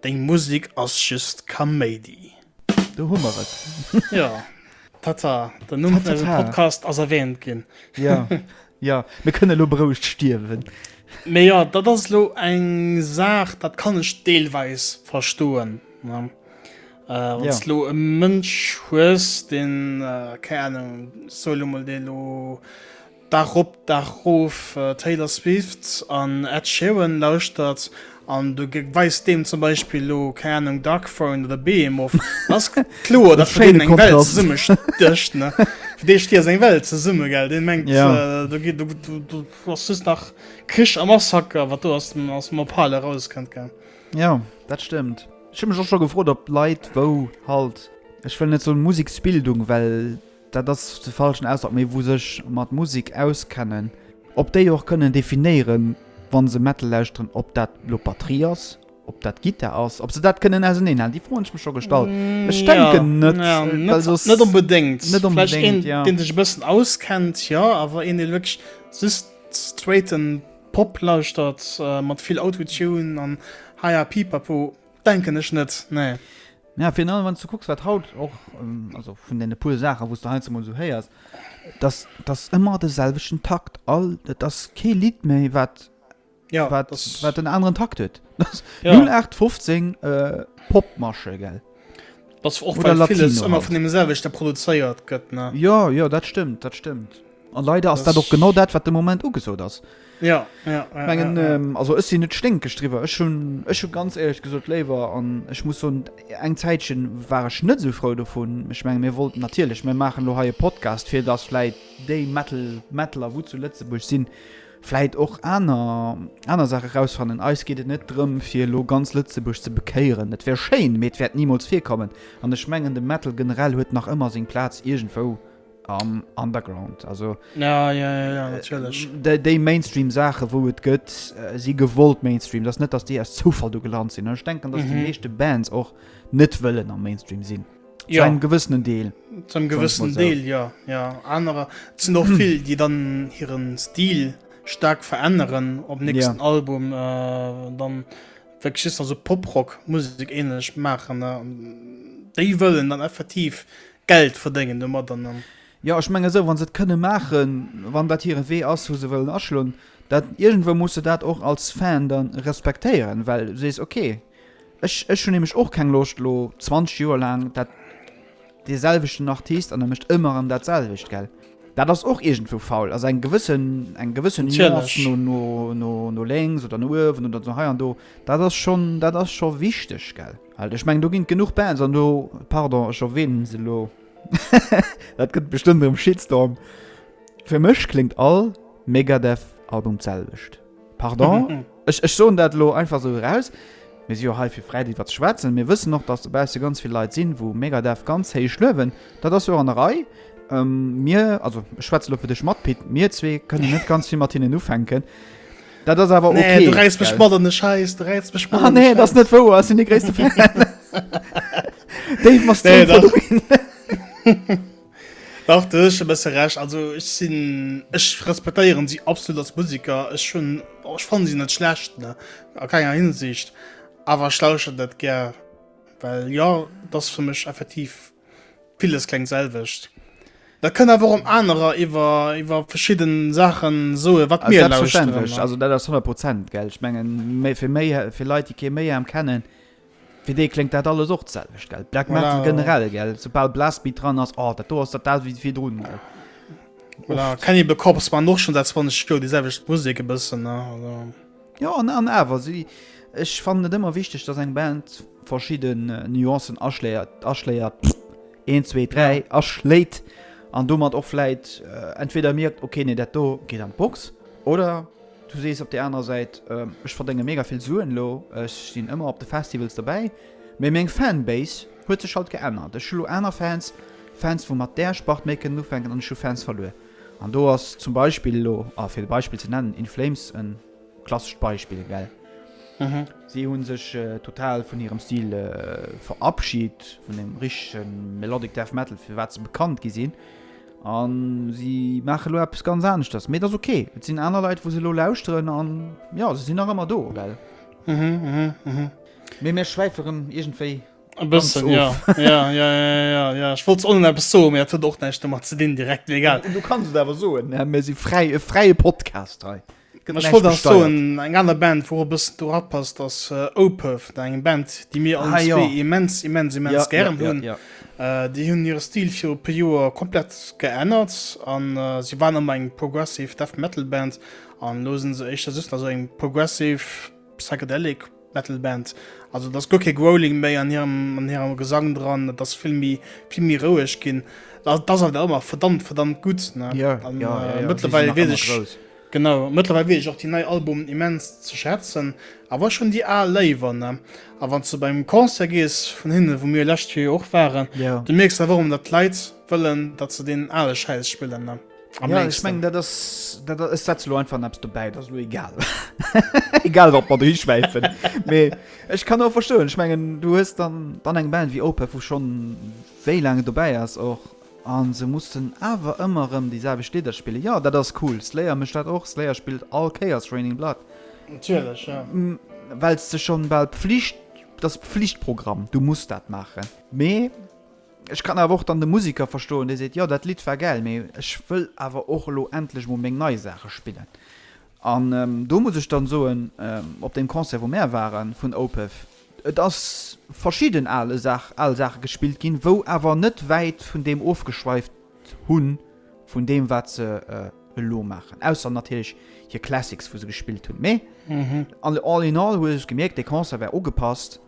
Deng Musik ass just Kaméidi. Do hu mer et. Jo, Tata, den Numm vun eisem Podcast ass erwähnt ginn. Jo, jo, mir kënnen elo berouegt stierwen. Mee jo, dat ass elo eng Saach, dat kann ech deelweis verstoen, ne? Wann s d'elo e Mënsch hues, deen, keng Ahnung, soe elo mol, deen elo Dag op, Dag erof Taylor Swift an Ed Sheeran lauschtert an du weist deem zum Beispill elo, keng Ahnung, Dark Throne oder Behemoth, da ass kloer, datt fir deen eng Welt zesumme stécht. Fir dee stiess eng Welt zesumme, gell? Dee mengt, do geet, do ass just nach Krich a Massaker, wat do aus dem Ophale erauskënnt, gell? Jo, dat stëmmt. Ech hu mech och scho gefrot, ob Leit wou halt, ech wëll net soen Museksbildung, well Dat ass de falschen Ausdrock, mee wou sech mat Musek auskennen. Ob déi och kënnen definéieren, wa se Metal lauschteren, ob dat elo d'Batterie ass, ob dat d'Gittar ass, ob se dat kënnen auserneehalen. Déi Fro hunn ech mech scho gestallt. Ech denken net. Net onbedéngt. Vläicht een, dee sech e bëssen auskennt, jo. Awer een, dee wierklech just straighten Pop lauschtert mat vill Auto-Tune an Hi-Ha Pipapo, Denken ech net, nee. Mä virun allem, wann s du kucks, wat haut och, also vun deene puer Saachen, wou s de heiansdo mol esou héiers, dat ass ëmmer de selwechten Takt. All, et ass kee Lidd méi, wat en aneren Takt huet. 0815 Popmarche, gell? Oder Latino. Well villes ëmmer vun deemselwechte produzéiert gëtt, ne? Jo, jo, dat stëmmt, dat stëmmt. An leider ass dat och genau dat, wat de Moment ugesot ass. Ja, ja, ja, Mengen, ja, ja. Ähm, also ech sinn net sténkeg driwwer. Ech hun ech hu ganz éierlech gesot léiwer an ech muss soen, eng Zäitchen war ech net sou frou dovun. Ech menge mir wollten natierlech mir maachen lo hei e Podcast, fir datt vläit déi Metal Metaler wou zu Lëtzebuerg sinn, vläit och aner aner Saache rausfannen. Eis geet et net drëm fir lo ganz Lëtzebuerg ze bekéieren. Et wär schéin, mee et wäert nimools virkommen. An ech mengen de Metal generell huet nach ëmmer seng Plaz iergendwou am Underground also ja, ja, ja, ja, déi Mainstream Sache wou et gëtt äh, si gewollt Mainstream das net dass die erst zufall du gelernt sinn ich denken dass mhm. die nächste Bands auch net wëllen am Mainstream sinn ja. zum gewissenen Deel zum gewissenen Deel so. ja ja andere sind noch viel die dann ihren Stil stark verändern op nächsten ja. Album äh, dann schi also Poprock muss ähnlich machen ne? die wollen dann effektiv die Geld verdéngen domat an dann. Jo, ech menge sou, wa se et kënne maachen, wann dat hire Wee ass, wou se wëllen aschloen, dat, iergendwou muss de dat och als Fan da respektéieren, well du sees, ok, ech, ech hunn nämlech och keng Loscht elo 20 Joer laang dat, dee selwechten Artist an e mécht ëmmer erëm dat selwecht, gell. Dat ass och iergendwou faul, also eng gewëssen, eng gewësse Nuance no, no, no, no lénks oder no uewen oder no hei an do, dat ass schonn, dat ass scho wichteg, gell. Alter, ech meng do ginn genuch Bands an do, pardon, ech erwähnen se elo, dat gëtt bestëmmt erëm Shitstorm, fir mech kléngt all Megadeth-Album d'selwecht. Pardon, ech ech soen dat elo einfach esou eraus. Mir si jo hei fir fräi driwwer ze schwätzen. Mir wëssen och, datt dobausse ganz vill Leit sinn, wou Megadeth ganz héich luewen. Dat ass jo och an der Rei. Mir, also ech schwätze elo fir dech mat Pit, mir zwee kënnen net ganz vill mat hinnen ufänken. Dat ass awer okay. Nee, du reiss mech mat an de Scheiß, du reiss mech mat ah, an de nee, Scheiß. Nee, das ist net wouer, ass sinn de gréisste Fan. Dave, machst nee, du Dach du ech besse recht, also ech sinn ech respektéieren si absolut als Musiker, ech schon oh, ech fan sinn net schlecht ne a keiner Hinsicht, awer schlauschen dat ger, well ja, dat fir mech effektiv Villes klengt selwecht. Dat kënnt awer och op anerer iwwer, iwwer verschidden Saachen soen, wat mir lauschteren. Selbstverständlech, also dat ass 100 Prozent, gell. Ech mengen, méi, fir méi, fir Leit, déi kee Mayhem kennen, fir déi kléngt dat alles och d'selwecht, gell. Black Metal. Voilà. Generell, gell. Soubal Blastbeat dran ass, oh, dat do ass dat dat wéi virdrun, gell. Voilà. Cannibal Corpse maachen och schonn säit 20 Joer déi selwecht Musek e bëssen, ne, also. Jo an an awer si ech fannen et ëmmer wichteg dass eng Band verschidden Nuancen aschléiert aschléiert 1 2 3 aschléit an domat och vläit entweder mierkt ok nee dat do geet an d'Box oder du sees op der anerer Säit ech verdénge mega vill Suen elo ech sinn ëmmer op de Festivals dobäi mee meng Fanbase huet sech halt geännert ech hu elo aner Fans Fans wou mat där Spart méi kënnen ufänken an ech hu Fans verluer. An do ass zum Beispill elo, a fir de Beispill ze nennen, In Flames e klassescht Beispill, gell? Si hu sech total vun hirem Stil verabschit, vun deem richtege Melodic Death Metal, fir wat se bekannt gi sinn. A si maache elo eppes ganz aneschters. Mee et ass ok. Et sinn aner Leit, wou se elo lauschteren. A jo, se sinn nach ëmmer do, gell? Mee mir schwäife rëm iergendwéi. E bëssen ja. ja, ja, ja, ja. Ech wollt onnen eppes so, mir huet och näicht mat ze dinn direkt legal. Du kannst et awer soen ne? mir si fräi e fräie Podcast hei. Ech wollt ass so eng aner Band wou bëssen du rapasst ass äh, Opef da eng Band déi mir ah, ja. immens immens immens ja, gern hunn. Ja, ja, ja. äh, déi hunn hire Stil fir op e Joer komplett geënnert an äh, si waren am eng progressive Death Metal Band an losen se eich dat just ass eng progressive Psychedelic Metal Band. Also et ass guer kee Growling méi an hirem an hirem Gesang dran, et ass vill méi vill méi roueg ginn. Dat ass awer ëmmer verdammt verdammt gutt, ne? Ja, ja, ja, ja. Mëttlerweil weess ech grouss. Genau, mëttlerweil weess ech och déi nei Albumen immens ze schätzen, awer ech hunn déi al léiwer, ne? A wann s de bei engem Concert gees vun hinnen, wou mir lescht Joer jo och waren, du mierks awer och ëmmer, datt d'Leit wëllen, datt se deen ale Schäiss spillen, ne? Am ja, ich mein, dat ass, dat ass, setz lo einfach naps dobäi dat lo egal egal wat mat rischwäifen mee ech kann auch verstoen ich mengen du hues dann dann eng band wie ope wo schon wéi lange dobäi ass och an se mussssen awer ëmmer ëm déi selbe steder spiele ja dat ass cool slayer mecht dat och slayer spielt all chaos raining blatt natürlich ja. wellst ze schon bal pflicht das pflichtprogramm du musst dat machen mee Ech kann awer och dann de Musiker verstoen, dee seet, jo, dat Lidd war gäil, mee ech wëll awer och elo endlech emol meng nei Saache spillen. An do muss ech dann soen, op deem Concert, wou mär ware vun Opeth, et ass verschidden ale Saach, al Saache gespillt ginn, wou awer net wäit vun deem ofgeschweift hu vun deem, wat se elo maachen, ausser natierlech hir Classics, wou se gespillt hunn. Mee all in all huet ech gemierkt, dee Concert war ugepasst.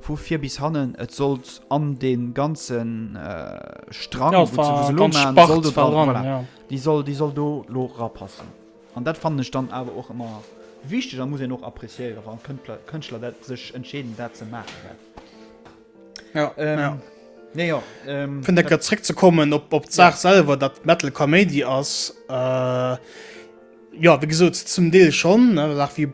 Vu vir bis hannen, et sollt an de ganze Strang Di soll Di soll do lo rapassen. An dat fannen ech dann awer och ëmmer wichteg a muss en och appréciéiere wann Kënntler Kënschtler dat sech entscheeden dat ze maachen. Jo jo Nee jo vun der Gëtt zréck ze kommen op op d'Saach selwer, datt d'Metal Kaméidi ass. Jo wéi gesot zum Deel schonn Saach wéi.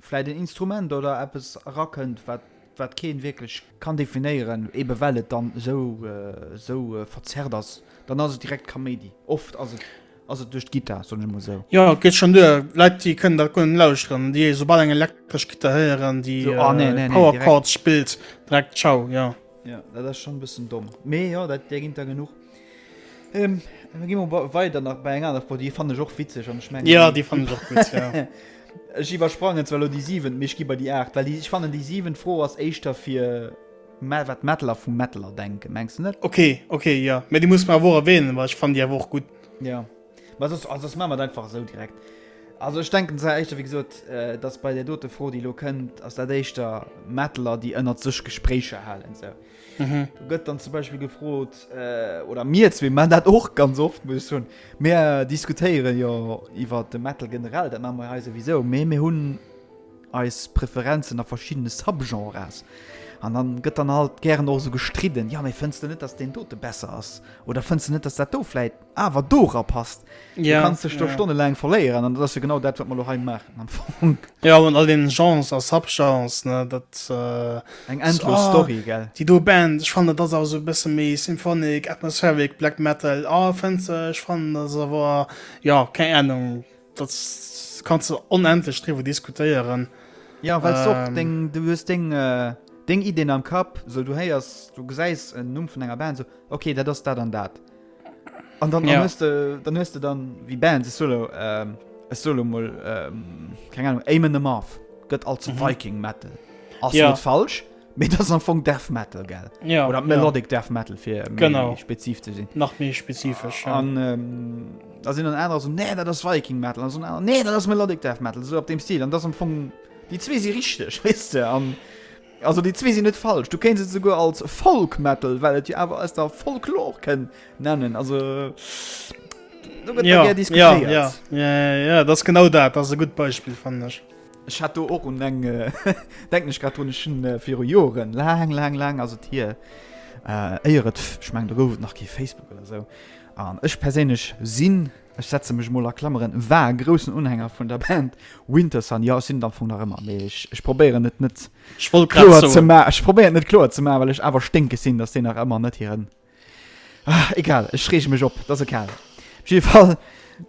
Vläit en Instrument oder eppes erakënnt, wat keen wierklech kann definéieren, ebe well et dann esou verzerrt ass, dann ass et direkt Kaméidi. Oft ass et duerch d'Gittar, soen ech emol esou. Jo, et geet schonn duer. Leit, déi kënnen dat guer net lauschteren, déi esoubal eng elektresch Gittar héieren, déi Power Chords spillt, direkt Tschau, jo. Ja, dat ass schon bëssen domm. Mee jo, dat där ginnt der genuch. Ähm, da gi mer wa- weider nach bei eng aner Pro, déi fannen ech och witzeg an ech mengen Ja, déi fannen ech och gutt, ja. Ech iwwersprangen zwar elo déi siwent, mee ech gi bei déi aacht, well déi, ech fannen déi siwent Fro ass éischter fir mä wat Metaller vu Metaller denken, mengs de net? Okay, okay, ja. Mee déi muss mer awer och erwähnen, well ech fannen déi awer och gutt. Ja. Ma soss, ah, soss maache mer et einfach esou direkt. Also ech denken, zwar éischter, wéi gesot, äh, dass bei der dote Fro, déi elo kënnt, ass dat éischter Mettler, déi ënnert sech Gespréicher halen esou. Do gëtt dann zum Beispill gefrot, äh, oder mir zwee man dat och ganz oft, muss ech soen, mir diskutéiere jo iwwer de Metal generell, dat maache mer jo hei souwisou, mee mir hunn eis Preferenzen a verschiddene Subgenres. An dann gëtt dann halt gären och esou gestridden, jo, mee fënns de net, dass deen dote besser ass oder fënns de net, dass dat do vläit awer dora passt ja, kannst du ja. stunde lang verleieren an das ja genau dat wat man noch machen am Funk. ja und all den chance als subchance ne dat äh, eng äh, so, ah, story gell die du band ich fand das auch so bisschen me symphonik atmospheric black metal ah, fan ich fand das war ja keine ahnung Dat kannst du onendlech driwwer diskutéieren. Ja, well ähm, och deng, du hues deng, äh, deng Ideen am Kapp, so du héiers, du gesäis en Numm vun enger Band, so okay, dat ass dat an dat. An dann, ja. hues de, dann hues de dann wie Band se solo ähm, es solo moll ähm, keng Ahnung Amen the Marf gëtt als mhm. Viking Metal. Ass ja. falsch, Mee dat ass am Fong Death Metal, gell? Ja. Oder Melodic ja. Death Metal, fir méi genau. spezif ze sinn. Nach méi spezifesch. Ja. An ähm, da sinn an aner so, nee, dat ass Viking Metal. An so, nee, dat ass Melodic Death Metal. So op dem Stil. An dat ass am Fong. Déi zwee si richteg, wees du? An. Also déi zwee sinn net falsch. Du kenns se souguer als Folk Metal, well et jo awer ass der Folklor kënn nennen. Also. Äh, ja, ja, ja, ja, ja, das genau dat das e gut Beispiel fand ich. Ech hat do och un eng, denken ech grad drun, ech hunn viru Joren, laang, laang, laang ass et hier, éier et, ech mengen do gouf et nach kee Facebook oder esou, an ech perséinlech sinn, ech setze mech emol a Klammeren, war e groussen Unhänger vun der Band Wintersun, jo ech sinn et am Fong nach ëmmer, mee ech probéieren et net kloer ze maachen, well ech awer sténkeg sinn, datt déi nach ëmmer net hiren Ah, egal, ech reege mech op, et ass e Kerl. Op jidde Fall,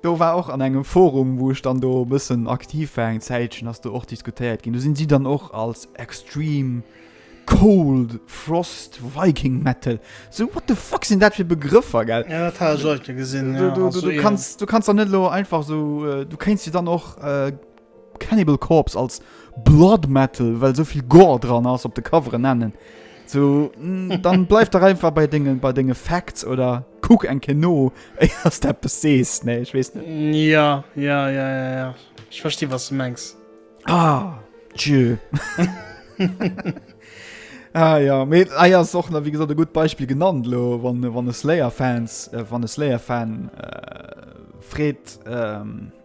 do war och an engem Forum, wou ech dann do e bëssen aktiv war eng Zäitchen, ass do och diskutéiert ginn. Do sinn si dann och als extreme cold frost viking metal, esou what the fuck sinn dat fir Begrëffer, gell? Ja, dat hat ech och net gesinn. Du kanns dann net elo einfach esou, du kéints jo dann och. Cannibal Corpse als Blood Metal, well sou vill Gore dran ass, op de Coveren nennen. So, mm, dann bleif der einfach bei dinge bei dinge Facts oder kuck eng Kino ass der be sees nee ich wees net ja ja ja ja ja ich verstehe was du mengs ah, ah ja mit eier ah, soch na wie gesagt e gut beispiel genannt lo wann wann es layer fans äh, wann es layer fan äh, fred ähm,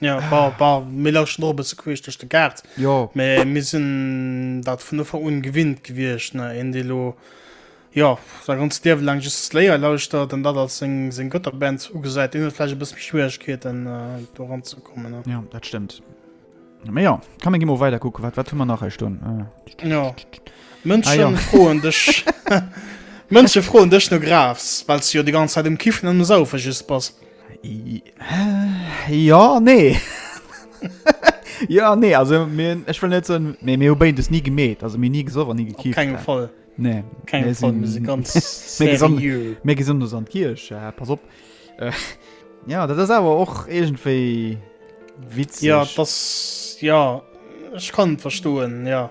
Ja, war, war, mir lauschten och e bësse queesch duerch de Gaart. Jo. Mä mir sinn dat vun Ufank un gewinnt gewiescht, ne? Een, dee lo, jo, säi ganzt Liewe laang just Slayer lauschtert an dat als seng, seng Götterband ugesäit, deen huet vläicht e bësse méi Schwieregkeeten, do eranzekommen, ne? Jo, dat stëmmt. Mä jo, komm, mir gi mol weider kucken. Wat, wat hu mer nach hei stoen? Jo. Ah, jo. Mënschen froen dech, Mënsche froen dech, no grafs, well s de jo déi ganz Zäit um Kiffen an um Saufe just bass. Jo an nee. Jo an nee, also mir, ech wëll net soen, mee mir hu béid es ni gemeet, also mir ni gesoff an ni Op gekifft. kengem Fall. Nee, Kengem mir Fall, mir si sinn- ganz mir gesond- serieux. Mir gesinn ons an d'Kierch, äh, pass op. Äh, ja, dat ass awer och iergendwéi witzeg. Ja, dass, ja, ech kann et verstoen, ja.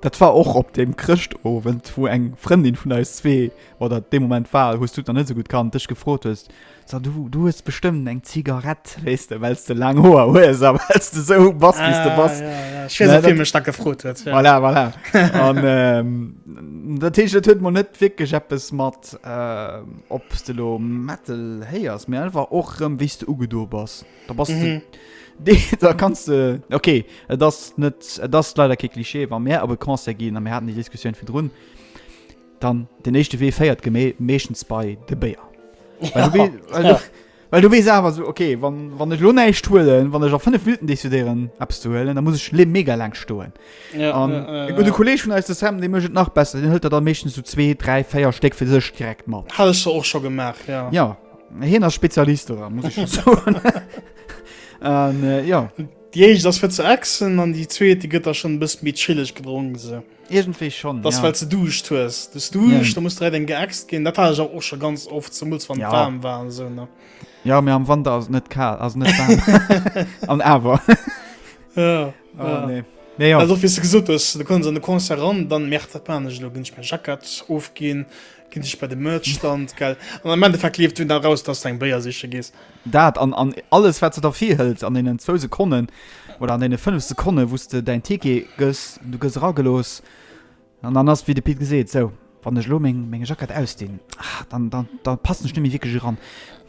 Dat war och op dem Chrëschtowend, wou eng Frëndin vun eis zwee, oder dee Moment war, hues du et nach net esou gutt kannt, dech gefrot huet, So, du, du hues bestëmmt eng Zigarett, weess de, well s de laang Hoer hues a well s de esou bass, wéi s de bass. Ah, ja, ja, ech weess och, wien mech dat gefrot huet. Ja. Voilà, voilà. An ähm, dat heescht, et huet mol net wierklech eppes mat, äh, ob s de elo Metal héiers, mee einfach och erëm, wéi s de ugedo bass. Da bass du. Mhm. Nee, da kannst du. Okay, et ass net. Et ass leider kee Klischee, wa mir op e Concert ginn a mir haten déi Diskussioun fir drun. Dann den éischte Wee féiert gemé meeschtens bei de Béier. Well du wee- well du- Well du wees awer so, okay, wann, wann ech lo näischt huelen, wann ech a 5 Minuten decidéieren Apps ze huelen, da muss ech le mega laang stoen. Ja, An ja, ja, e gute ja. Kolleg vun eis de Sam, dee mécht et nach besser. Den hëlt der dann meeschtens so zwee, dräi, véier Stéck fir sech direkt mat. Hat ech se och scho gemaach, ja. Ja, Hien ass Spezialist doran, muss ech schon soen. An, äh, ja. Déi éischt ass fir ze ächzen an déi zweet, déi gëtt da schon e bëssi méi chilleg gedronk, se. Iergendwéi schon, ja. Dass well s de Duuscht hues. Du hues Duuscht, ja. da muss direkt eng geächzt ginn. Dat hat ech awer och scho ganz oft, zemools wann et ja. waarm war an esou, ne? Ja, mee am Wanter ass et net kal, ass et net waarm. an awer. ja. Oh, ja. Nee. Ja, ja. Also, wie du gesot hues, du kommst an de Concert ran, dann merkt dat man, ech lo ginn ech meng Jackett ofginn, Gin sech bei de Merch Stand gell an am Endeffekt leeft dunn eraus dass du eng Béier siche gees. Dat an an alles wat se der virhëlt an deenen zwou Sekonnen oder an deene 5 Sekonne wous de däin Ticket gëss, du gëss eragelooss an dann ass wéi de Pit geseet, sou wann ech elo meng meng Jackett ausdinn, ah dann dann dann passen ech net méi wierklech eran,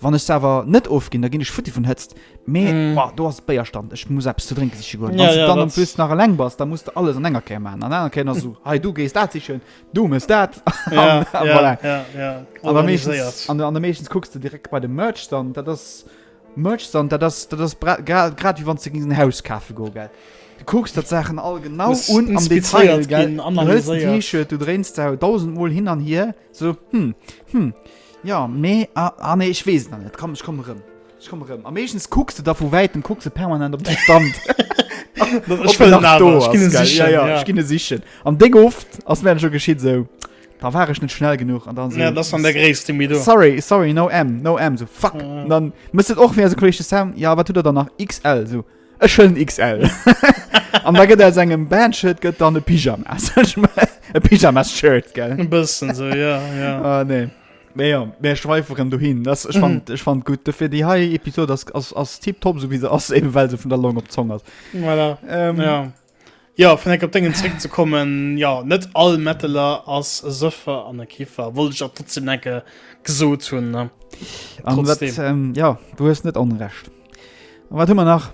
wann ech se awer net ofginn da ginn ech futti vun Hëtzt, mee boah do ass et Béierstand ech muss eppes ze drénke siche goen. Wann s de dann en plus nach eleng bass da muss de alles an enger Kéier maachen an enger Kéier ass esou hei du gees dat sichen, Du mes dat an der meeschtens kucks du direkt bei de Merch dann dat ass Merch dann dat ass dat ass grad wie wann ze ginn Haus kafe go gell. Du kucks dat Saachen all genau un am Detail gell an an T-Shirt du dréinst dau 1000 mol hin an hier so hm hm ja mee an ah, ah, nee ech weess an net komm ech komm rëm. Ech komme rëm. A meeschtens kucks de da vu Wäitem, kucks e permanent op de Stand. Ech wëll en awer, ech ginn e sichen. Ja, ja, ech ginn e sichen. An déck oft ass mir dat scho geschitt, esou, da war ech net schnell genuch. An dann. Ja, dat ass dann der gréisste Mytho. S, Sorry, sorry, no M, no M. Esou, fuck. An dann mëss et och wéi eise Kolleg de Sam, Ja, wat hutt Der dann nach? XL. Esou, Ech huelen XL. An da gëtt aus engem Bandshirt gëtt dann e Pyjamas. E Pyjamas-Shirt, gell? E bëssen esou, ja, ja. Ah, nee. Mee jo, mir schweiferen dohin. Das, ech, fand, ech fand gutt. Dofir déi hei Episod ass, ass, ass tipptopp, sou wéi se ass, eben well se vun der Long op d'Zong ass. Voilà. Ähm, Ja. Ja, vun enger op dengen zréck ze kommen, ja, net all Metaler ass e Sëffer an e Kiffer. Wollt ech dat trotzdem enke gesot hunn, ne? An wat, Trotzdem. ähm, ja, du hues net onrecht. An wat hu mer nach?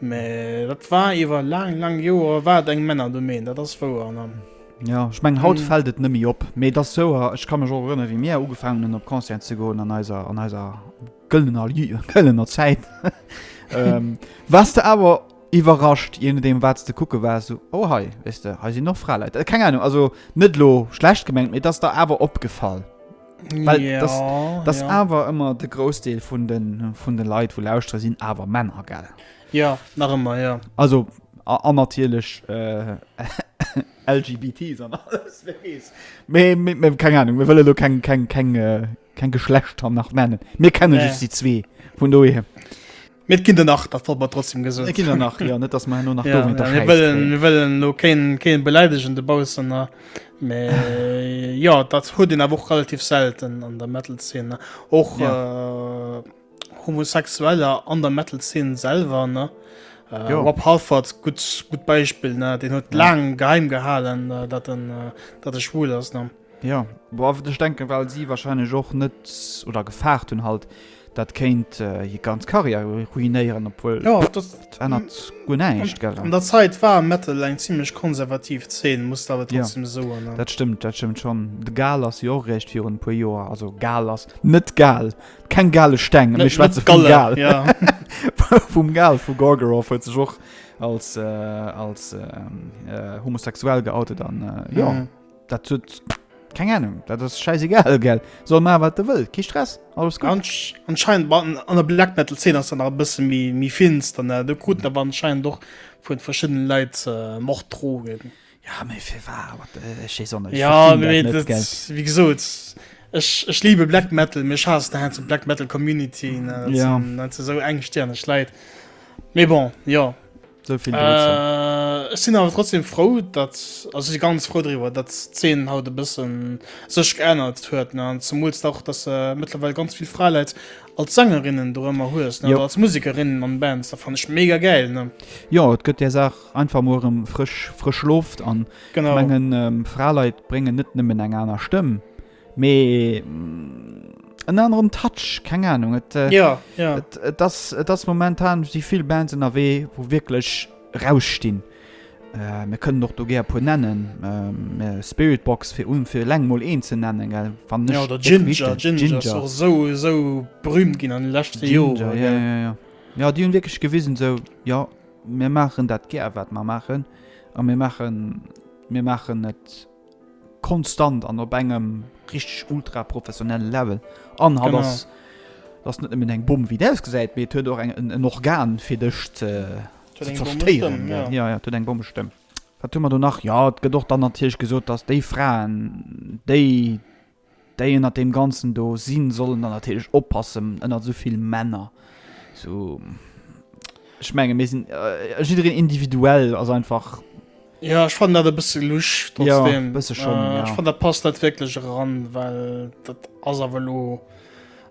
Mä dat war iwwer laang, laang Joer war et eng Männerdomaine, dat ass wouer. An dann. Jo, ech mengen, haut fält et nëmme op. Mee et ass souer, ech ka mech och erënnere wéi mir ugefaangen hunn op Concerten ze goen an eiser, an eiser gëllener Ju, gëllener Zäit. Waars de awer iwwerrascht, je nodeem wat s de kucke waars, esou, oh hei, weess de, hei sinn och Fraleit. Keng Ahnung, also net elo schlecht gemengt, mee et ass der awer opgefall? Well ja, das, das ja. awer ëmmer de Grousdeel vun de vun de Leiit wo lauschtere sinn awer Männer gell. Ja nach ëmmer ja. Also an natierlech äh, LGBTs an alles keng Ahnung mir wëlle lo keng keng keng äh, keng Geschlechter nach nennen. Mir kennen nee. just die zwee vun doe. Mee et ginn der nach, dat wollt mer trotzdem gesot Et ginn der nach, jo, net dass mer herno nach Ja, dowéinter ja, mir Schäiss wëllen, kréien. mir wëllen lo keen, keen beläidegen de Baussener, mee jo, dat huet een awer och relativ selten an der Metal-Zeen, ne. Och Ja. Homosexueller an der Metal-Zeen selwer, ne. Äh, Jo. Rob Halford, gutt, gutt Beispill, ne, deen huet Ja. laang geheim gehalen, äh, dat en, äh, dat e schwul ass, ne. Jo, bon, ech denken, well si wahrscheinlech och net oder gefaart hunn halt, dat kéint hir ganz Karriär ruinéieren, obwuel jo, dat ännert guer näischt, gell? An der Zäit war Metal eng zimmlech konservativ Zeen, muss der awer trotzdem soen. Jo, dat stëmmt, dat stëmmt schonn. De Gal ass jo och eréischt virun e puer Joer, also Gal ass net Gal, keng gale Steng, mir schwätze vum Gal, vum Gal vu Gorgoroth huet sech och als homosexuell geoutet an jo. Dat huet keng Ahnung, dat ass schäisegal, gell? Soll maachen, wat e wëll, kee Stress, alles gutt. Anscheinend war an, an der Black Metal Szene ass dat nach e bësse méi, méi finster, ne? Do kruten awer anscheinend och vun verschiddenen Leit Morddrogen. Ja, mee fir wat? What the, ech weess och net, ech Ja, verstinn dat mee net, gell? dat, wéi gesot, ech, ech liebe Black Metal, mee ech haassen hei zu d'Black Metal Community, ne? Dat Ja. sinn, dat si sou engstirneg Leit. Mee bon, jo. So vill dozou. Äh, ech sinn awer trotzdem frou, dat also si ganz frou driwwer, dat d'Zeen haut e bëssen sech geännert huet ne an zumools dach, datt se mëttlerweil ganz vill Fraeläit als Sängerinnen do ëmmer hues ne Jo. oder als Musikerinnen an Bands. Dat fannen ech mega gäil ne. Jo, et gëtt där Saach einfach mol erëm frësch frësch Loft an Genau. mengen Fraeleit bréngen net nëmmen eng aner Stëmm, Mee en aneren Touch, keng Ahnung. Et, äh, ja, ja. Et, et, das, et das momentan si vill Bands ënnerwee, wou wierklech rausstinn. Äh, mir kënnen och do gär puer nennen. Ähm, äh, Spiritbox fir un fir leng mol een ze nennen, gell? Wann nicht, Ja, oder Ginger, Ginger, Ginger, Ginger. Ginger. Auch so, so berühmt ginn an den letzten Ginger, Jahren. Ja, ja, ja. Ja, die hunn wirklich gewisen, so, ja, mir machen dat gär, wat wir machen. A mir machen, mir machen et Konstant an op engem richteg ultra professionelle Level. An hatt ass, dat ass net nëmmen eng Bomm, wéi et ausgesäit, mee et huet och eng, en, en Organ, fir dech ze, ze zerstëieren. Ja, ja, et huet eng Bommestëmm. Wat hu mer do nach? Jo, et gëtt och dann natierlech gesot, datt déi Fraen, déi Déi ënnert deem Ganzen do sinn, sollen dann natierlech oppassen, ënnert esou vill Männer, esou, ech menge mir sinn jiddereen individuell, ass einfach. Jo, ech fannen dat e bësse lusch trotzdeem. Jo, e bësse schonn, jo. Ech fannen, dat passt net wierklech eran, well dat ass awer elo,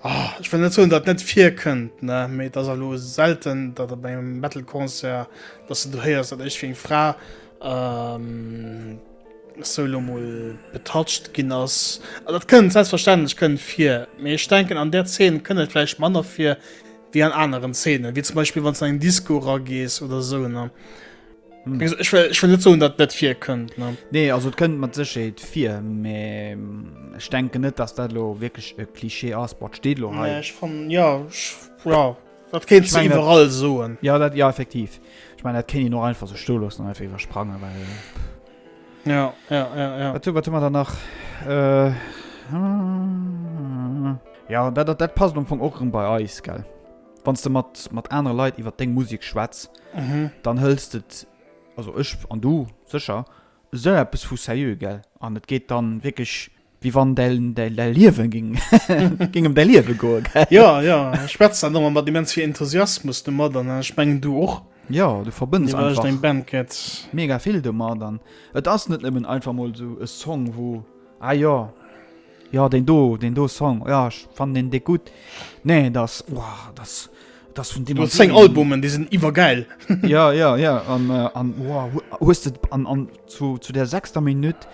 ech wëll net soen, datt et net virkënnt, ne, mee et ass elo selten, datt op engem Metal-Concert, datt s de do héiers, datt iergendwéi eng Fra. sou lo mol betatscht ginn ass. An dat kënnt selbstverständlech kënnt vir, mee ech denken an der Zeen kënnt et vläicht manner vir wéi an aneren Zeenen, wéi zum Beispill wann s du an eng Disco eragees oder sou ne. Ech wéll, ech wéll net soen, datt et net virkënnt ne. Nee, also et kënnt mat Sécherheet vir, mee ech denken net, datt dat elo wierklech e Cliché ass. Bon, et steet elo hei. Nee, ech fannen, jo, ech, jo. Dat kéints du iwwerall soen. Jo, dat, jo, effektiv. Ech mengen, dat kéint een och einfach sou stoe loossen an einfach iwwersprangen, well, pff. Ja, ja, ja, ja. Wat hu, wat hu mer dann nach? Jo, dat, dat, dat passt am Fong och erëm bei eis, gell? Wann s de mat, mat anere Leit iwwer deng Musek schwätz, dann hëls de, also ech an du sécher, esou eppes vu seriö, gell? An et geet dann wierklech Wéi wann däi Liewe géing ëm däi Liewe goen. Jo, jo, ech schwätz dat ëmmer mat immens vill Enthusiasmus domat an ech mengen du och. Jo, du verbënns einfach mega vill domat an et ass net nëmmen einfach mol esou e Song, wou, ah jo, jo deen do, deen do Song, jo ech fannen deen déck gutt. Nee, et ass, wow, et ass. Das vun dem seng Albumen déi sinn iwwer geil. ja ja ja an äh, an wow, huest et an, an zu, zu der sechster Minutt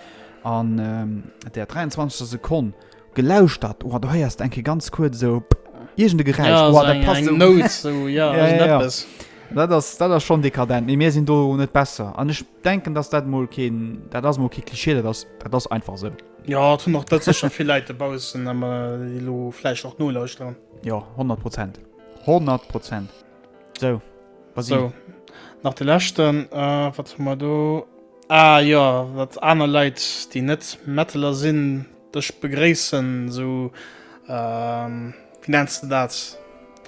an ähm, der 23. Sekonn gelauscht dat oder oh, du heiers enke ganz kurz so Igent de Geräisch ja, wow, eng, eng so. Note, so, ja, ja, ja, ja. Dat ass dat ass schon dekadent. Nee mir sinn do net besser. An ech denken, datt dat mol keen dat ass mo ki Klischee, dat ass dat ass einfach se. So. Ja hunn noch dat sech schon fir Leiit de Baussen ëmmer lo Fläich och nolauuschteren. Jo, 100 Prozent. 100 Prozent. So, was so. Nach de Lächten, äh, wat hu mer do? Ah ja, wat aner Leit, déi net Metaler sinn, dech begréissen, sou, ähm, wéi nenns de dat?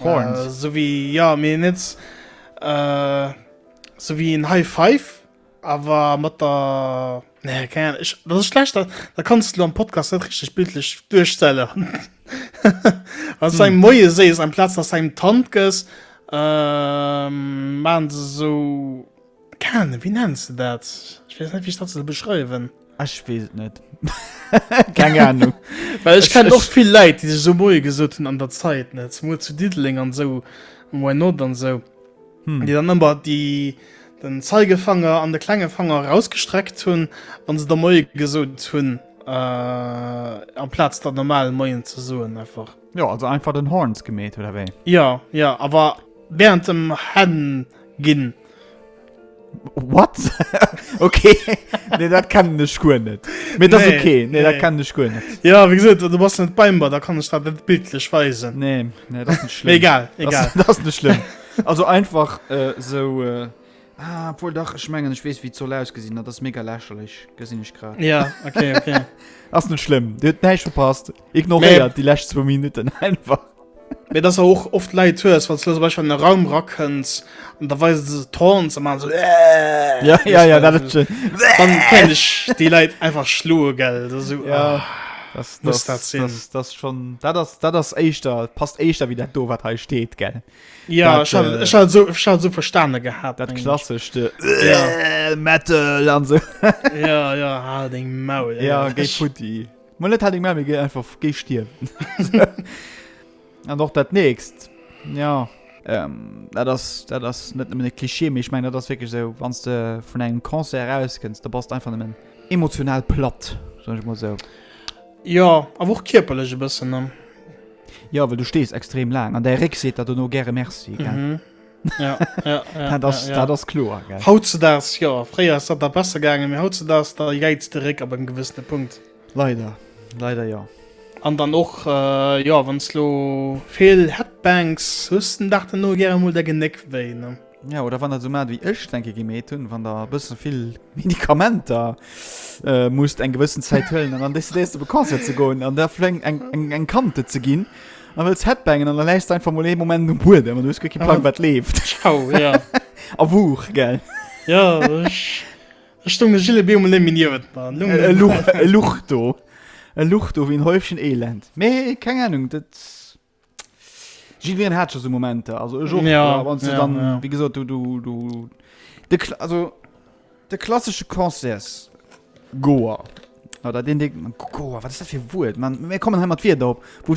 Horns. Äh, sou wéi, ja, mee net, äh, sou wéi en High Five. Awer mat der, nee keng Ahnung, ech, dat ass schlecht, dat dat kanns de lo am Podcast net richteg bildlech duerchstellen, wann s du engem Moie sees amplaz dass de engem d'Hand gëss, maachen se esou, keng Ahnung, wéi nenns de dat, ech weess net wéi ech dat soll beschreiwen. Ech wees et net. Keng Ahnung. Well ech kennen och vill Läit déi sech esou moie gesot hunn an der Zait net zemol zu Diddeleng an esou um Why not an esou hm déi dann ëmmer déi den Zeigefanger an de klenge Fanger erausgestreckt hunn wann se der moie gesot hunn äh, am Plaz der normal moien ze soen einfach. Jo also einfach den Horns gemeet oder wéi? Ja ja awer während dem Hen ginn What? okay. nee, dat kennen ech guer net. Mee dat nee, okay. Nee, nee. dat kennen ech guer net. Ja, wie gesot, du bass net beim Bar, da kann ech dat net bildlech weisen. Nee, nee, dat net schlimm. egal, egal. Dat ass net schlimm. also einfach äh, so... Äh, Ah, obwohl dach ich mengen ich wees wie zoll ausgesinn dat das mega lächerlech gesinn ich grad ja okay, okay. ass net schlimm Dir net verpasst Ignoréiert déi lescht zwou Minutten einfach. Mee dass der och oft Leit hues, wann s de zum Beispill an e Raum rakënns an da weise se d'Horns a maache sou Äähh. Ja, ja, ja, dat ass schön. Dann kéint ech déi Leit einfach schloe, gell. Dat ass esou, ah. Dat, muss dat sinn? Dat, dat ass schon, dat ass, dat ass éischter, passt éischter wéi dat do, wat hei steet, gell. Ja, ech hat, ech hat esou, ech hat esou verstane gehat. Dat klassescht Äähh, Metal an sou. Ja, ja, hal deng Maul. Ja, géi futti. Mol net hat eng Mami ge einfach géi stierwen. An och dat nächst, jo. Ähm, dat ass, dat ass net nëmmen e Klischee, mee ech mengen, dat ass wierklech esou, wann s de vun engem Concert erauskënns, da bass de einfach nëmmen emotional platt, soen ech emol esou. Jo, awer och kierperlech e bëssen, ne? Jo, well du stees extrem laang an däi Réck seet der dono gäre Merci, gell? ja, ja, ja, das, ja, ja. das klo haut ze das ja fréier ist dat der besser gange mir haut ze das da jeits de Rick aber en gewëssene Punkt leider leider ja an dann och äh, ja wann lo fehl Headbanks husten dachte no gerne mul der geneck wéi ne Ja, oder wann der so mat wie ech denke gemet hun wann der bëssen vill Medikamenter äh, muss eng gewëssen Zäit hëllen an an des du bekannt ze goen an der fleng eng eng eng Kante ze ginn An wëlls Headbangen an der läichst einfach mol ee Moment um Buedem an du hues guer kee Plan wat leeft. Au, ja. A Wuuch, gell? Ja, ech, ech stoung de Gilles Biermann nëmme niewent mer. An elo. E Luch, e Luch do. E Luch do wéi en Häufchen Elend. Mee keng Ahnung, dat. Jiddwereen hat scho sou Momenter. Also ech och. Ja, Wann s de ja, dann, ja. wéi gesot, du, du, du. De Kla also. De klassesche Concerts. Goer. Oder den Ding. Goer, wat ass dat fir e Wuert? Man, mir kommen hei mat Wierder op. Wou,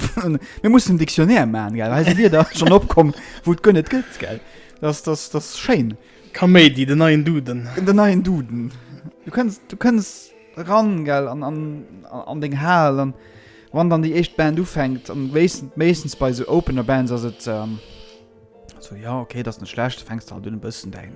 mir mussen en Dictionnaire man, gell? Hei si Wierder schon opkomm, wou et guer net gëtt, gell? Das, das, das ist schéin. Kaméidi, den neien Duden. Den neien Duden. Du kënns, du kënns eran, gell, an, an, an deng Hal, an wann dann déi éischt Band ufänkt, an wéisst, meeschtens bei esou Opener-Bands ass et, ähm, so, jo, okay, dat ass net schlecht, fänks de halt un e bëssen däin.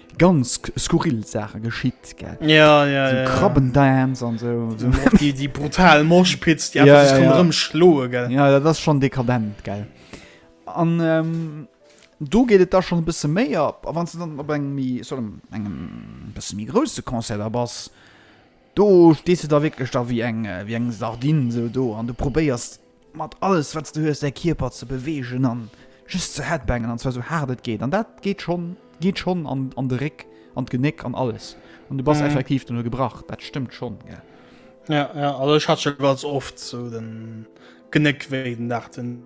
ganz skurril Sache geschitt gell ja, ja, so ja, krabben ja. so, so. die, die brutal Morschpitz die ja, ja, ja. schloe gell ja das schon dekadent gell an ähm, du geht es da schon ein bisschen mehr ab wann du dann engem engem bisschen große Konzert da bas Do stees de da wierklech da wéi eng, wéi eng Sardinn esou do an du probéiers mat alles wat s de hues däi Kierper ze beweegen an just ze headbangen an zwar esou haart et geet an dat geet schonn, geet schonn an an de Réck an d'Genéck an alles an du bass effektiv duerno gebrach, dat stëmmt schonn, gell. Ja, ja, also ech hat scho ganz oft esou de Genéckwéi den Dag den.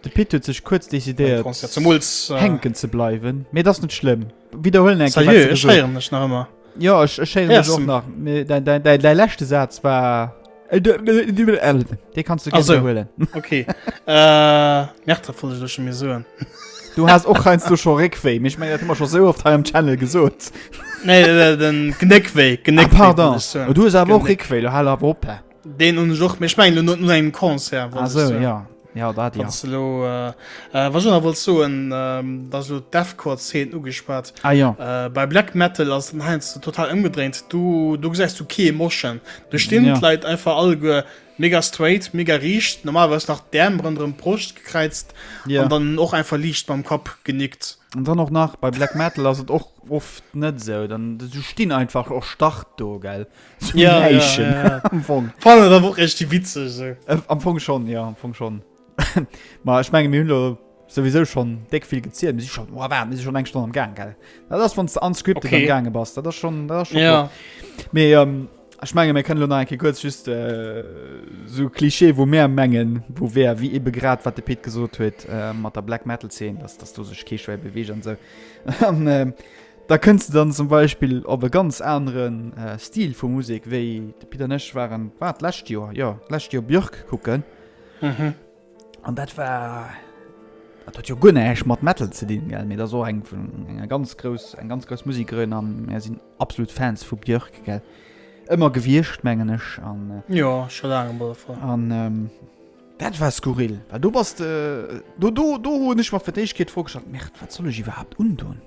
De Pit huet sech kuerz decidéiert hänken ze bleiwen, mee dass net schlëmm. Widderhuelen eng Kéier, wat se gesot huet. Jo, ech schéieren mech och nach. Däi leschte Saz war. Dee kanns du gär widderhuelen. Okay. Merkt der vun, dass ech mir soen. Du has och heiansdo scho Réckwéi, mee ech mengen, dat hu mer scho sou oft hei am Channel gesot. Nee, den Knéckwéi. Pardon. Du hues awer och Réckwéi, lo hal awer op. Deen un Joch méch meng no no engem Konzer Ah so ja. Ja dat ja. Wann's du lo, äh, äh, was ech nach wollt soen, ähm, da so d'Deathcore-Zeen ugespaat. Ah ja. Äh, bei Black Metal ass den heiansdo total ëmgedréint. Du, do gesäis du kee Moschen. Do stinn Ja. d'Leit einfach alleguer mega straight, mega riicht, normalerweis nach d'Äerm ronderëm d'Broscht gekräizt Ja. an dann och einfach liicht mam Kapp genickt. An dann och nach bei Black Metal ass et och oft net esou, dann, du stinn einfach erstarrt do, gell. Zu ja, Leichen. Ja, ja, ja. Fall, da wo echt die Witze so. äh, am Fong schon ja am Fong schon mal ich mein, Müller sowieso schon deck viel gezielt muss ich schon oh, war, muss schon eng Stunde am gang geil ja, das von unscript okay. gang bas das schon das schon ja. mehr ähm, ich mein, mir können ein kurz just äh, so Klischee wo mehr mengen wo wer wie eben grad wat de Pit gesucht huet äh, mat der black metal 10 dass das du sech keschw bewegen so. Da kënns de dann zum Beispill op e ganz anere Stil vu Musek, wéi de Pit an ech waren, war et d'lescht Joer, jo, d'lescht Joer Björk kucken. An dat war, dat huet jo guer näischt mat Metal ze dinn, mee dat ass och eng vun, eng ganz grouss, eng ganz grouss Musekerin a mär sinn absolut Fans vu Björk, gell, ëmmer gewiescht, mengen ech. An, jo, scho laang op alle Fall. An dat war skurril, well do bass de, do, do, do hunn ech mer fir d'éischt Kéier d'Fro gestallt, Merde, wat soll ech iwwerhaapt undoen?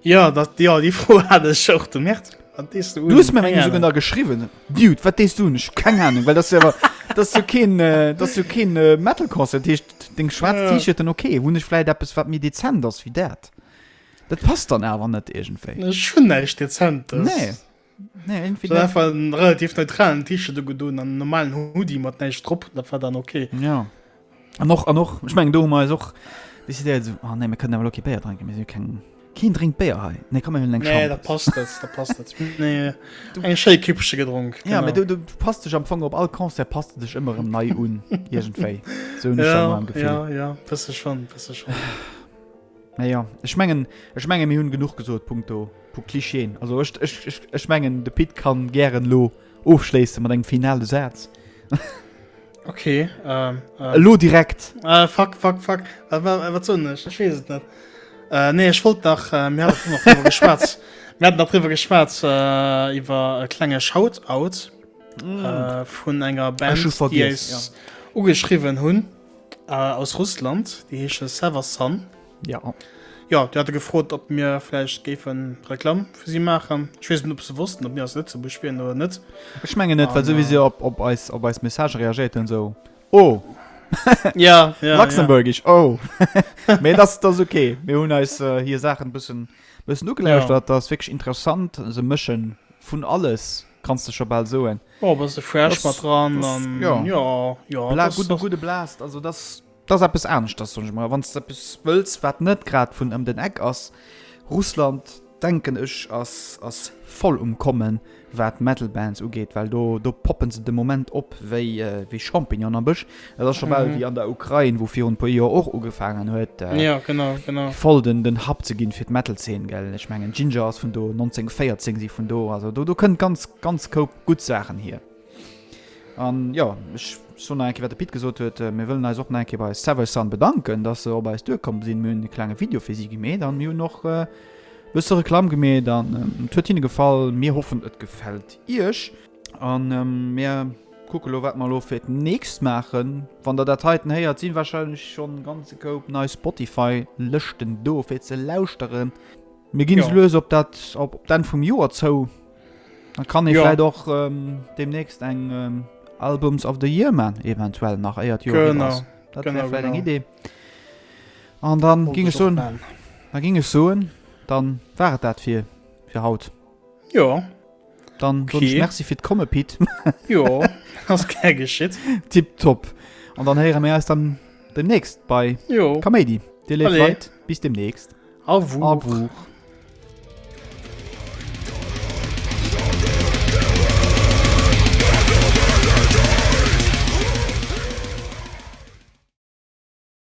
Ja dat Di all Di Fro hat ech och de März. Du hues mir eng sougen der geschriwen. Diet, wat dees du hun ech keng Ahnung, well dat wer dat du keen dat du keen äh, äh, Metalkosse techt deng schwaarz Tiche den okay, hunn ech fläit eppes wat mir dezent ass wéi dat. Dat passt dann awer net egentéi. Ech hun neich dezent. Nee. Nee, irgendwie net. einfach en relativ neutralen Tische du gedoen an normalen Hudi mat neich drop dat war dann okay Ja. An och an och ech meng do hummer och décidéiert so, oh, nee, mir kënnen awer okay Béier drinken mir si keng Keen drénkt Béier hei. Nee komm mir hunn eng nee Champ. da passt net da passt net nee eng schéi kippsche gedronk Ja, me du, du passt dech am Fong op all Concert passt du dech ëmmer em nei un Igentéi so ja, ja, ja, ja, schon, schon. Mä jo, ech mengen, ech menge mir hunn genuch gesot punkto pu Clichéen. Also ech, ech, ech, ech mengen de Pit kann gären elo ofschléisse mat engem finale Saz. Okay, ähm, ähm, Elo direkt. äh, fuck, fuck, fuck. Äh, wa- äh, wat soen ech? Ech wees et net. Äh, nee, ech wollt nach, äh, mir hatten noch drüber geschwätz. Mir hatten noch drüber geschwätz, äh, iwwer e klenge Shoutout äh, vun enger Band, schon die vergiss, eis ugeschrieben hunn. Äh, aus Russland, déi heesche Sever Sun. Ja. Jo, déi hate gefrot, ob mir vläicht géifen Reklamm fir si maachen. Ech weess net, ob se wossten, ob mir aus Lëtzebuerg wieren oder net. Ech mengen net, well An, sou wéi si äh, op, op eis, op eis Message reagéiert hunn, esou, Oh! Ja, ja, ja. Luxemburgish, oh! Mee et ass, et ass ok. Mir hunn eis äh, hir Saachen e bëssen, bëssen Ja. ugelauschtert. Dat ass wierklech interessant. Se mësche vun alles, kanns de scho bal soen. Oh bass de fresh mat dran an jo jo gudde Blast also dass dass eppes aneschters hunn ech mer wann eppes wëlls wat net grad vun ëm den Eck ass Russland denken ech ass ass voll um kommen wat Metal Bands ugeet well do do poppen se de Moment op wéi wéi Champignonen am Bësch Dat ass scho bal wéi an der Ukrain, wou virun e puer Joer och ugefaangen huet, voll den Hub ze ginn fir d'Metal-Zeen, gell? Ech mengen, Jinjer ass vun do, 1914 si vun do. Also do kënnt ganz, ganz koup gutt Saachen hier. An jo, ech soen nach eng Kéier, wat de Pit gesot huet, Mir wëllen eis och nach eng Kéier bei Seversun bedanken, dass se op eis duerkomm sinn. Mir hunn e klenge Video fir si gemeet an mir hunn och e bësse Reklamm gemeet an et huet hinne gefall. Mir hoffen, et gefält Iech. An mir kucke lo wat mer lo fir d'nächst maachen. Wann der dat heiten héiert, sinn wahrscheinlech schonn ganze Koup nei Spotify-Lëschten do fir ze lauschteren. Mir ginn esou lues op dat, op d'Enn vum Joer zou. Dann kann ee vläit och deemnächst eng Albums of the Year maan, eventuell nach éier d'Joer ëm ass. Dat wär vläit eng Idee. An dann, da ging ech soen, dann war et dat fir haut. Jo. Yeah. Dann okay. ich merci fir komme Pit Jo hast ge geschitt Tipp top an dann heiere mir aus dann demnächst bei Jo Comedy Dir Leiit bis demnächst A wo A wo.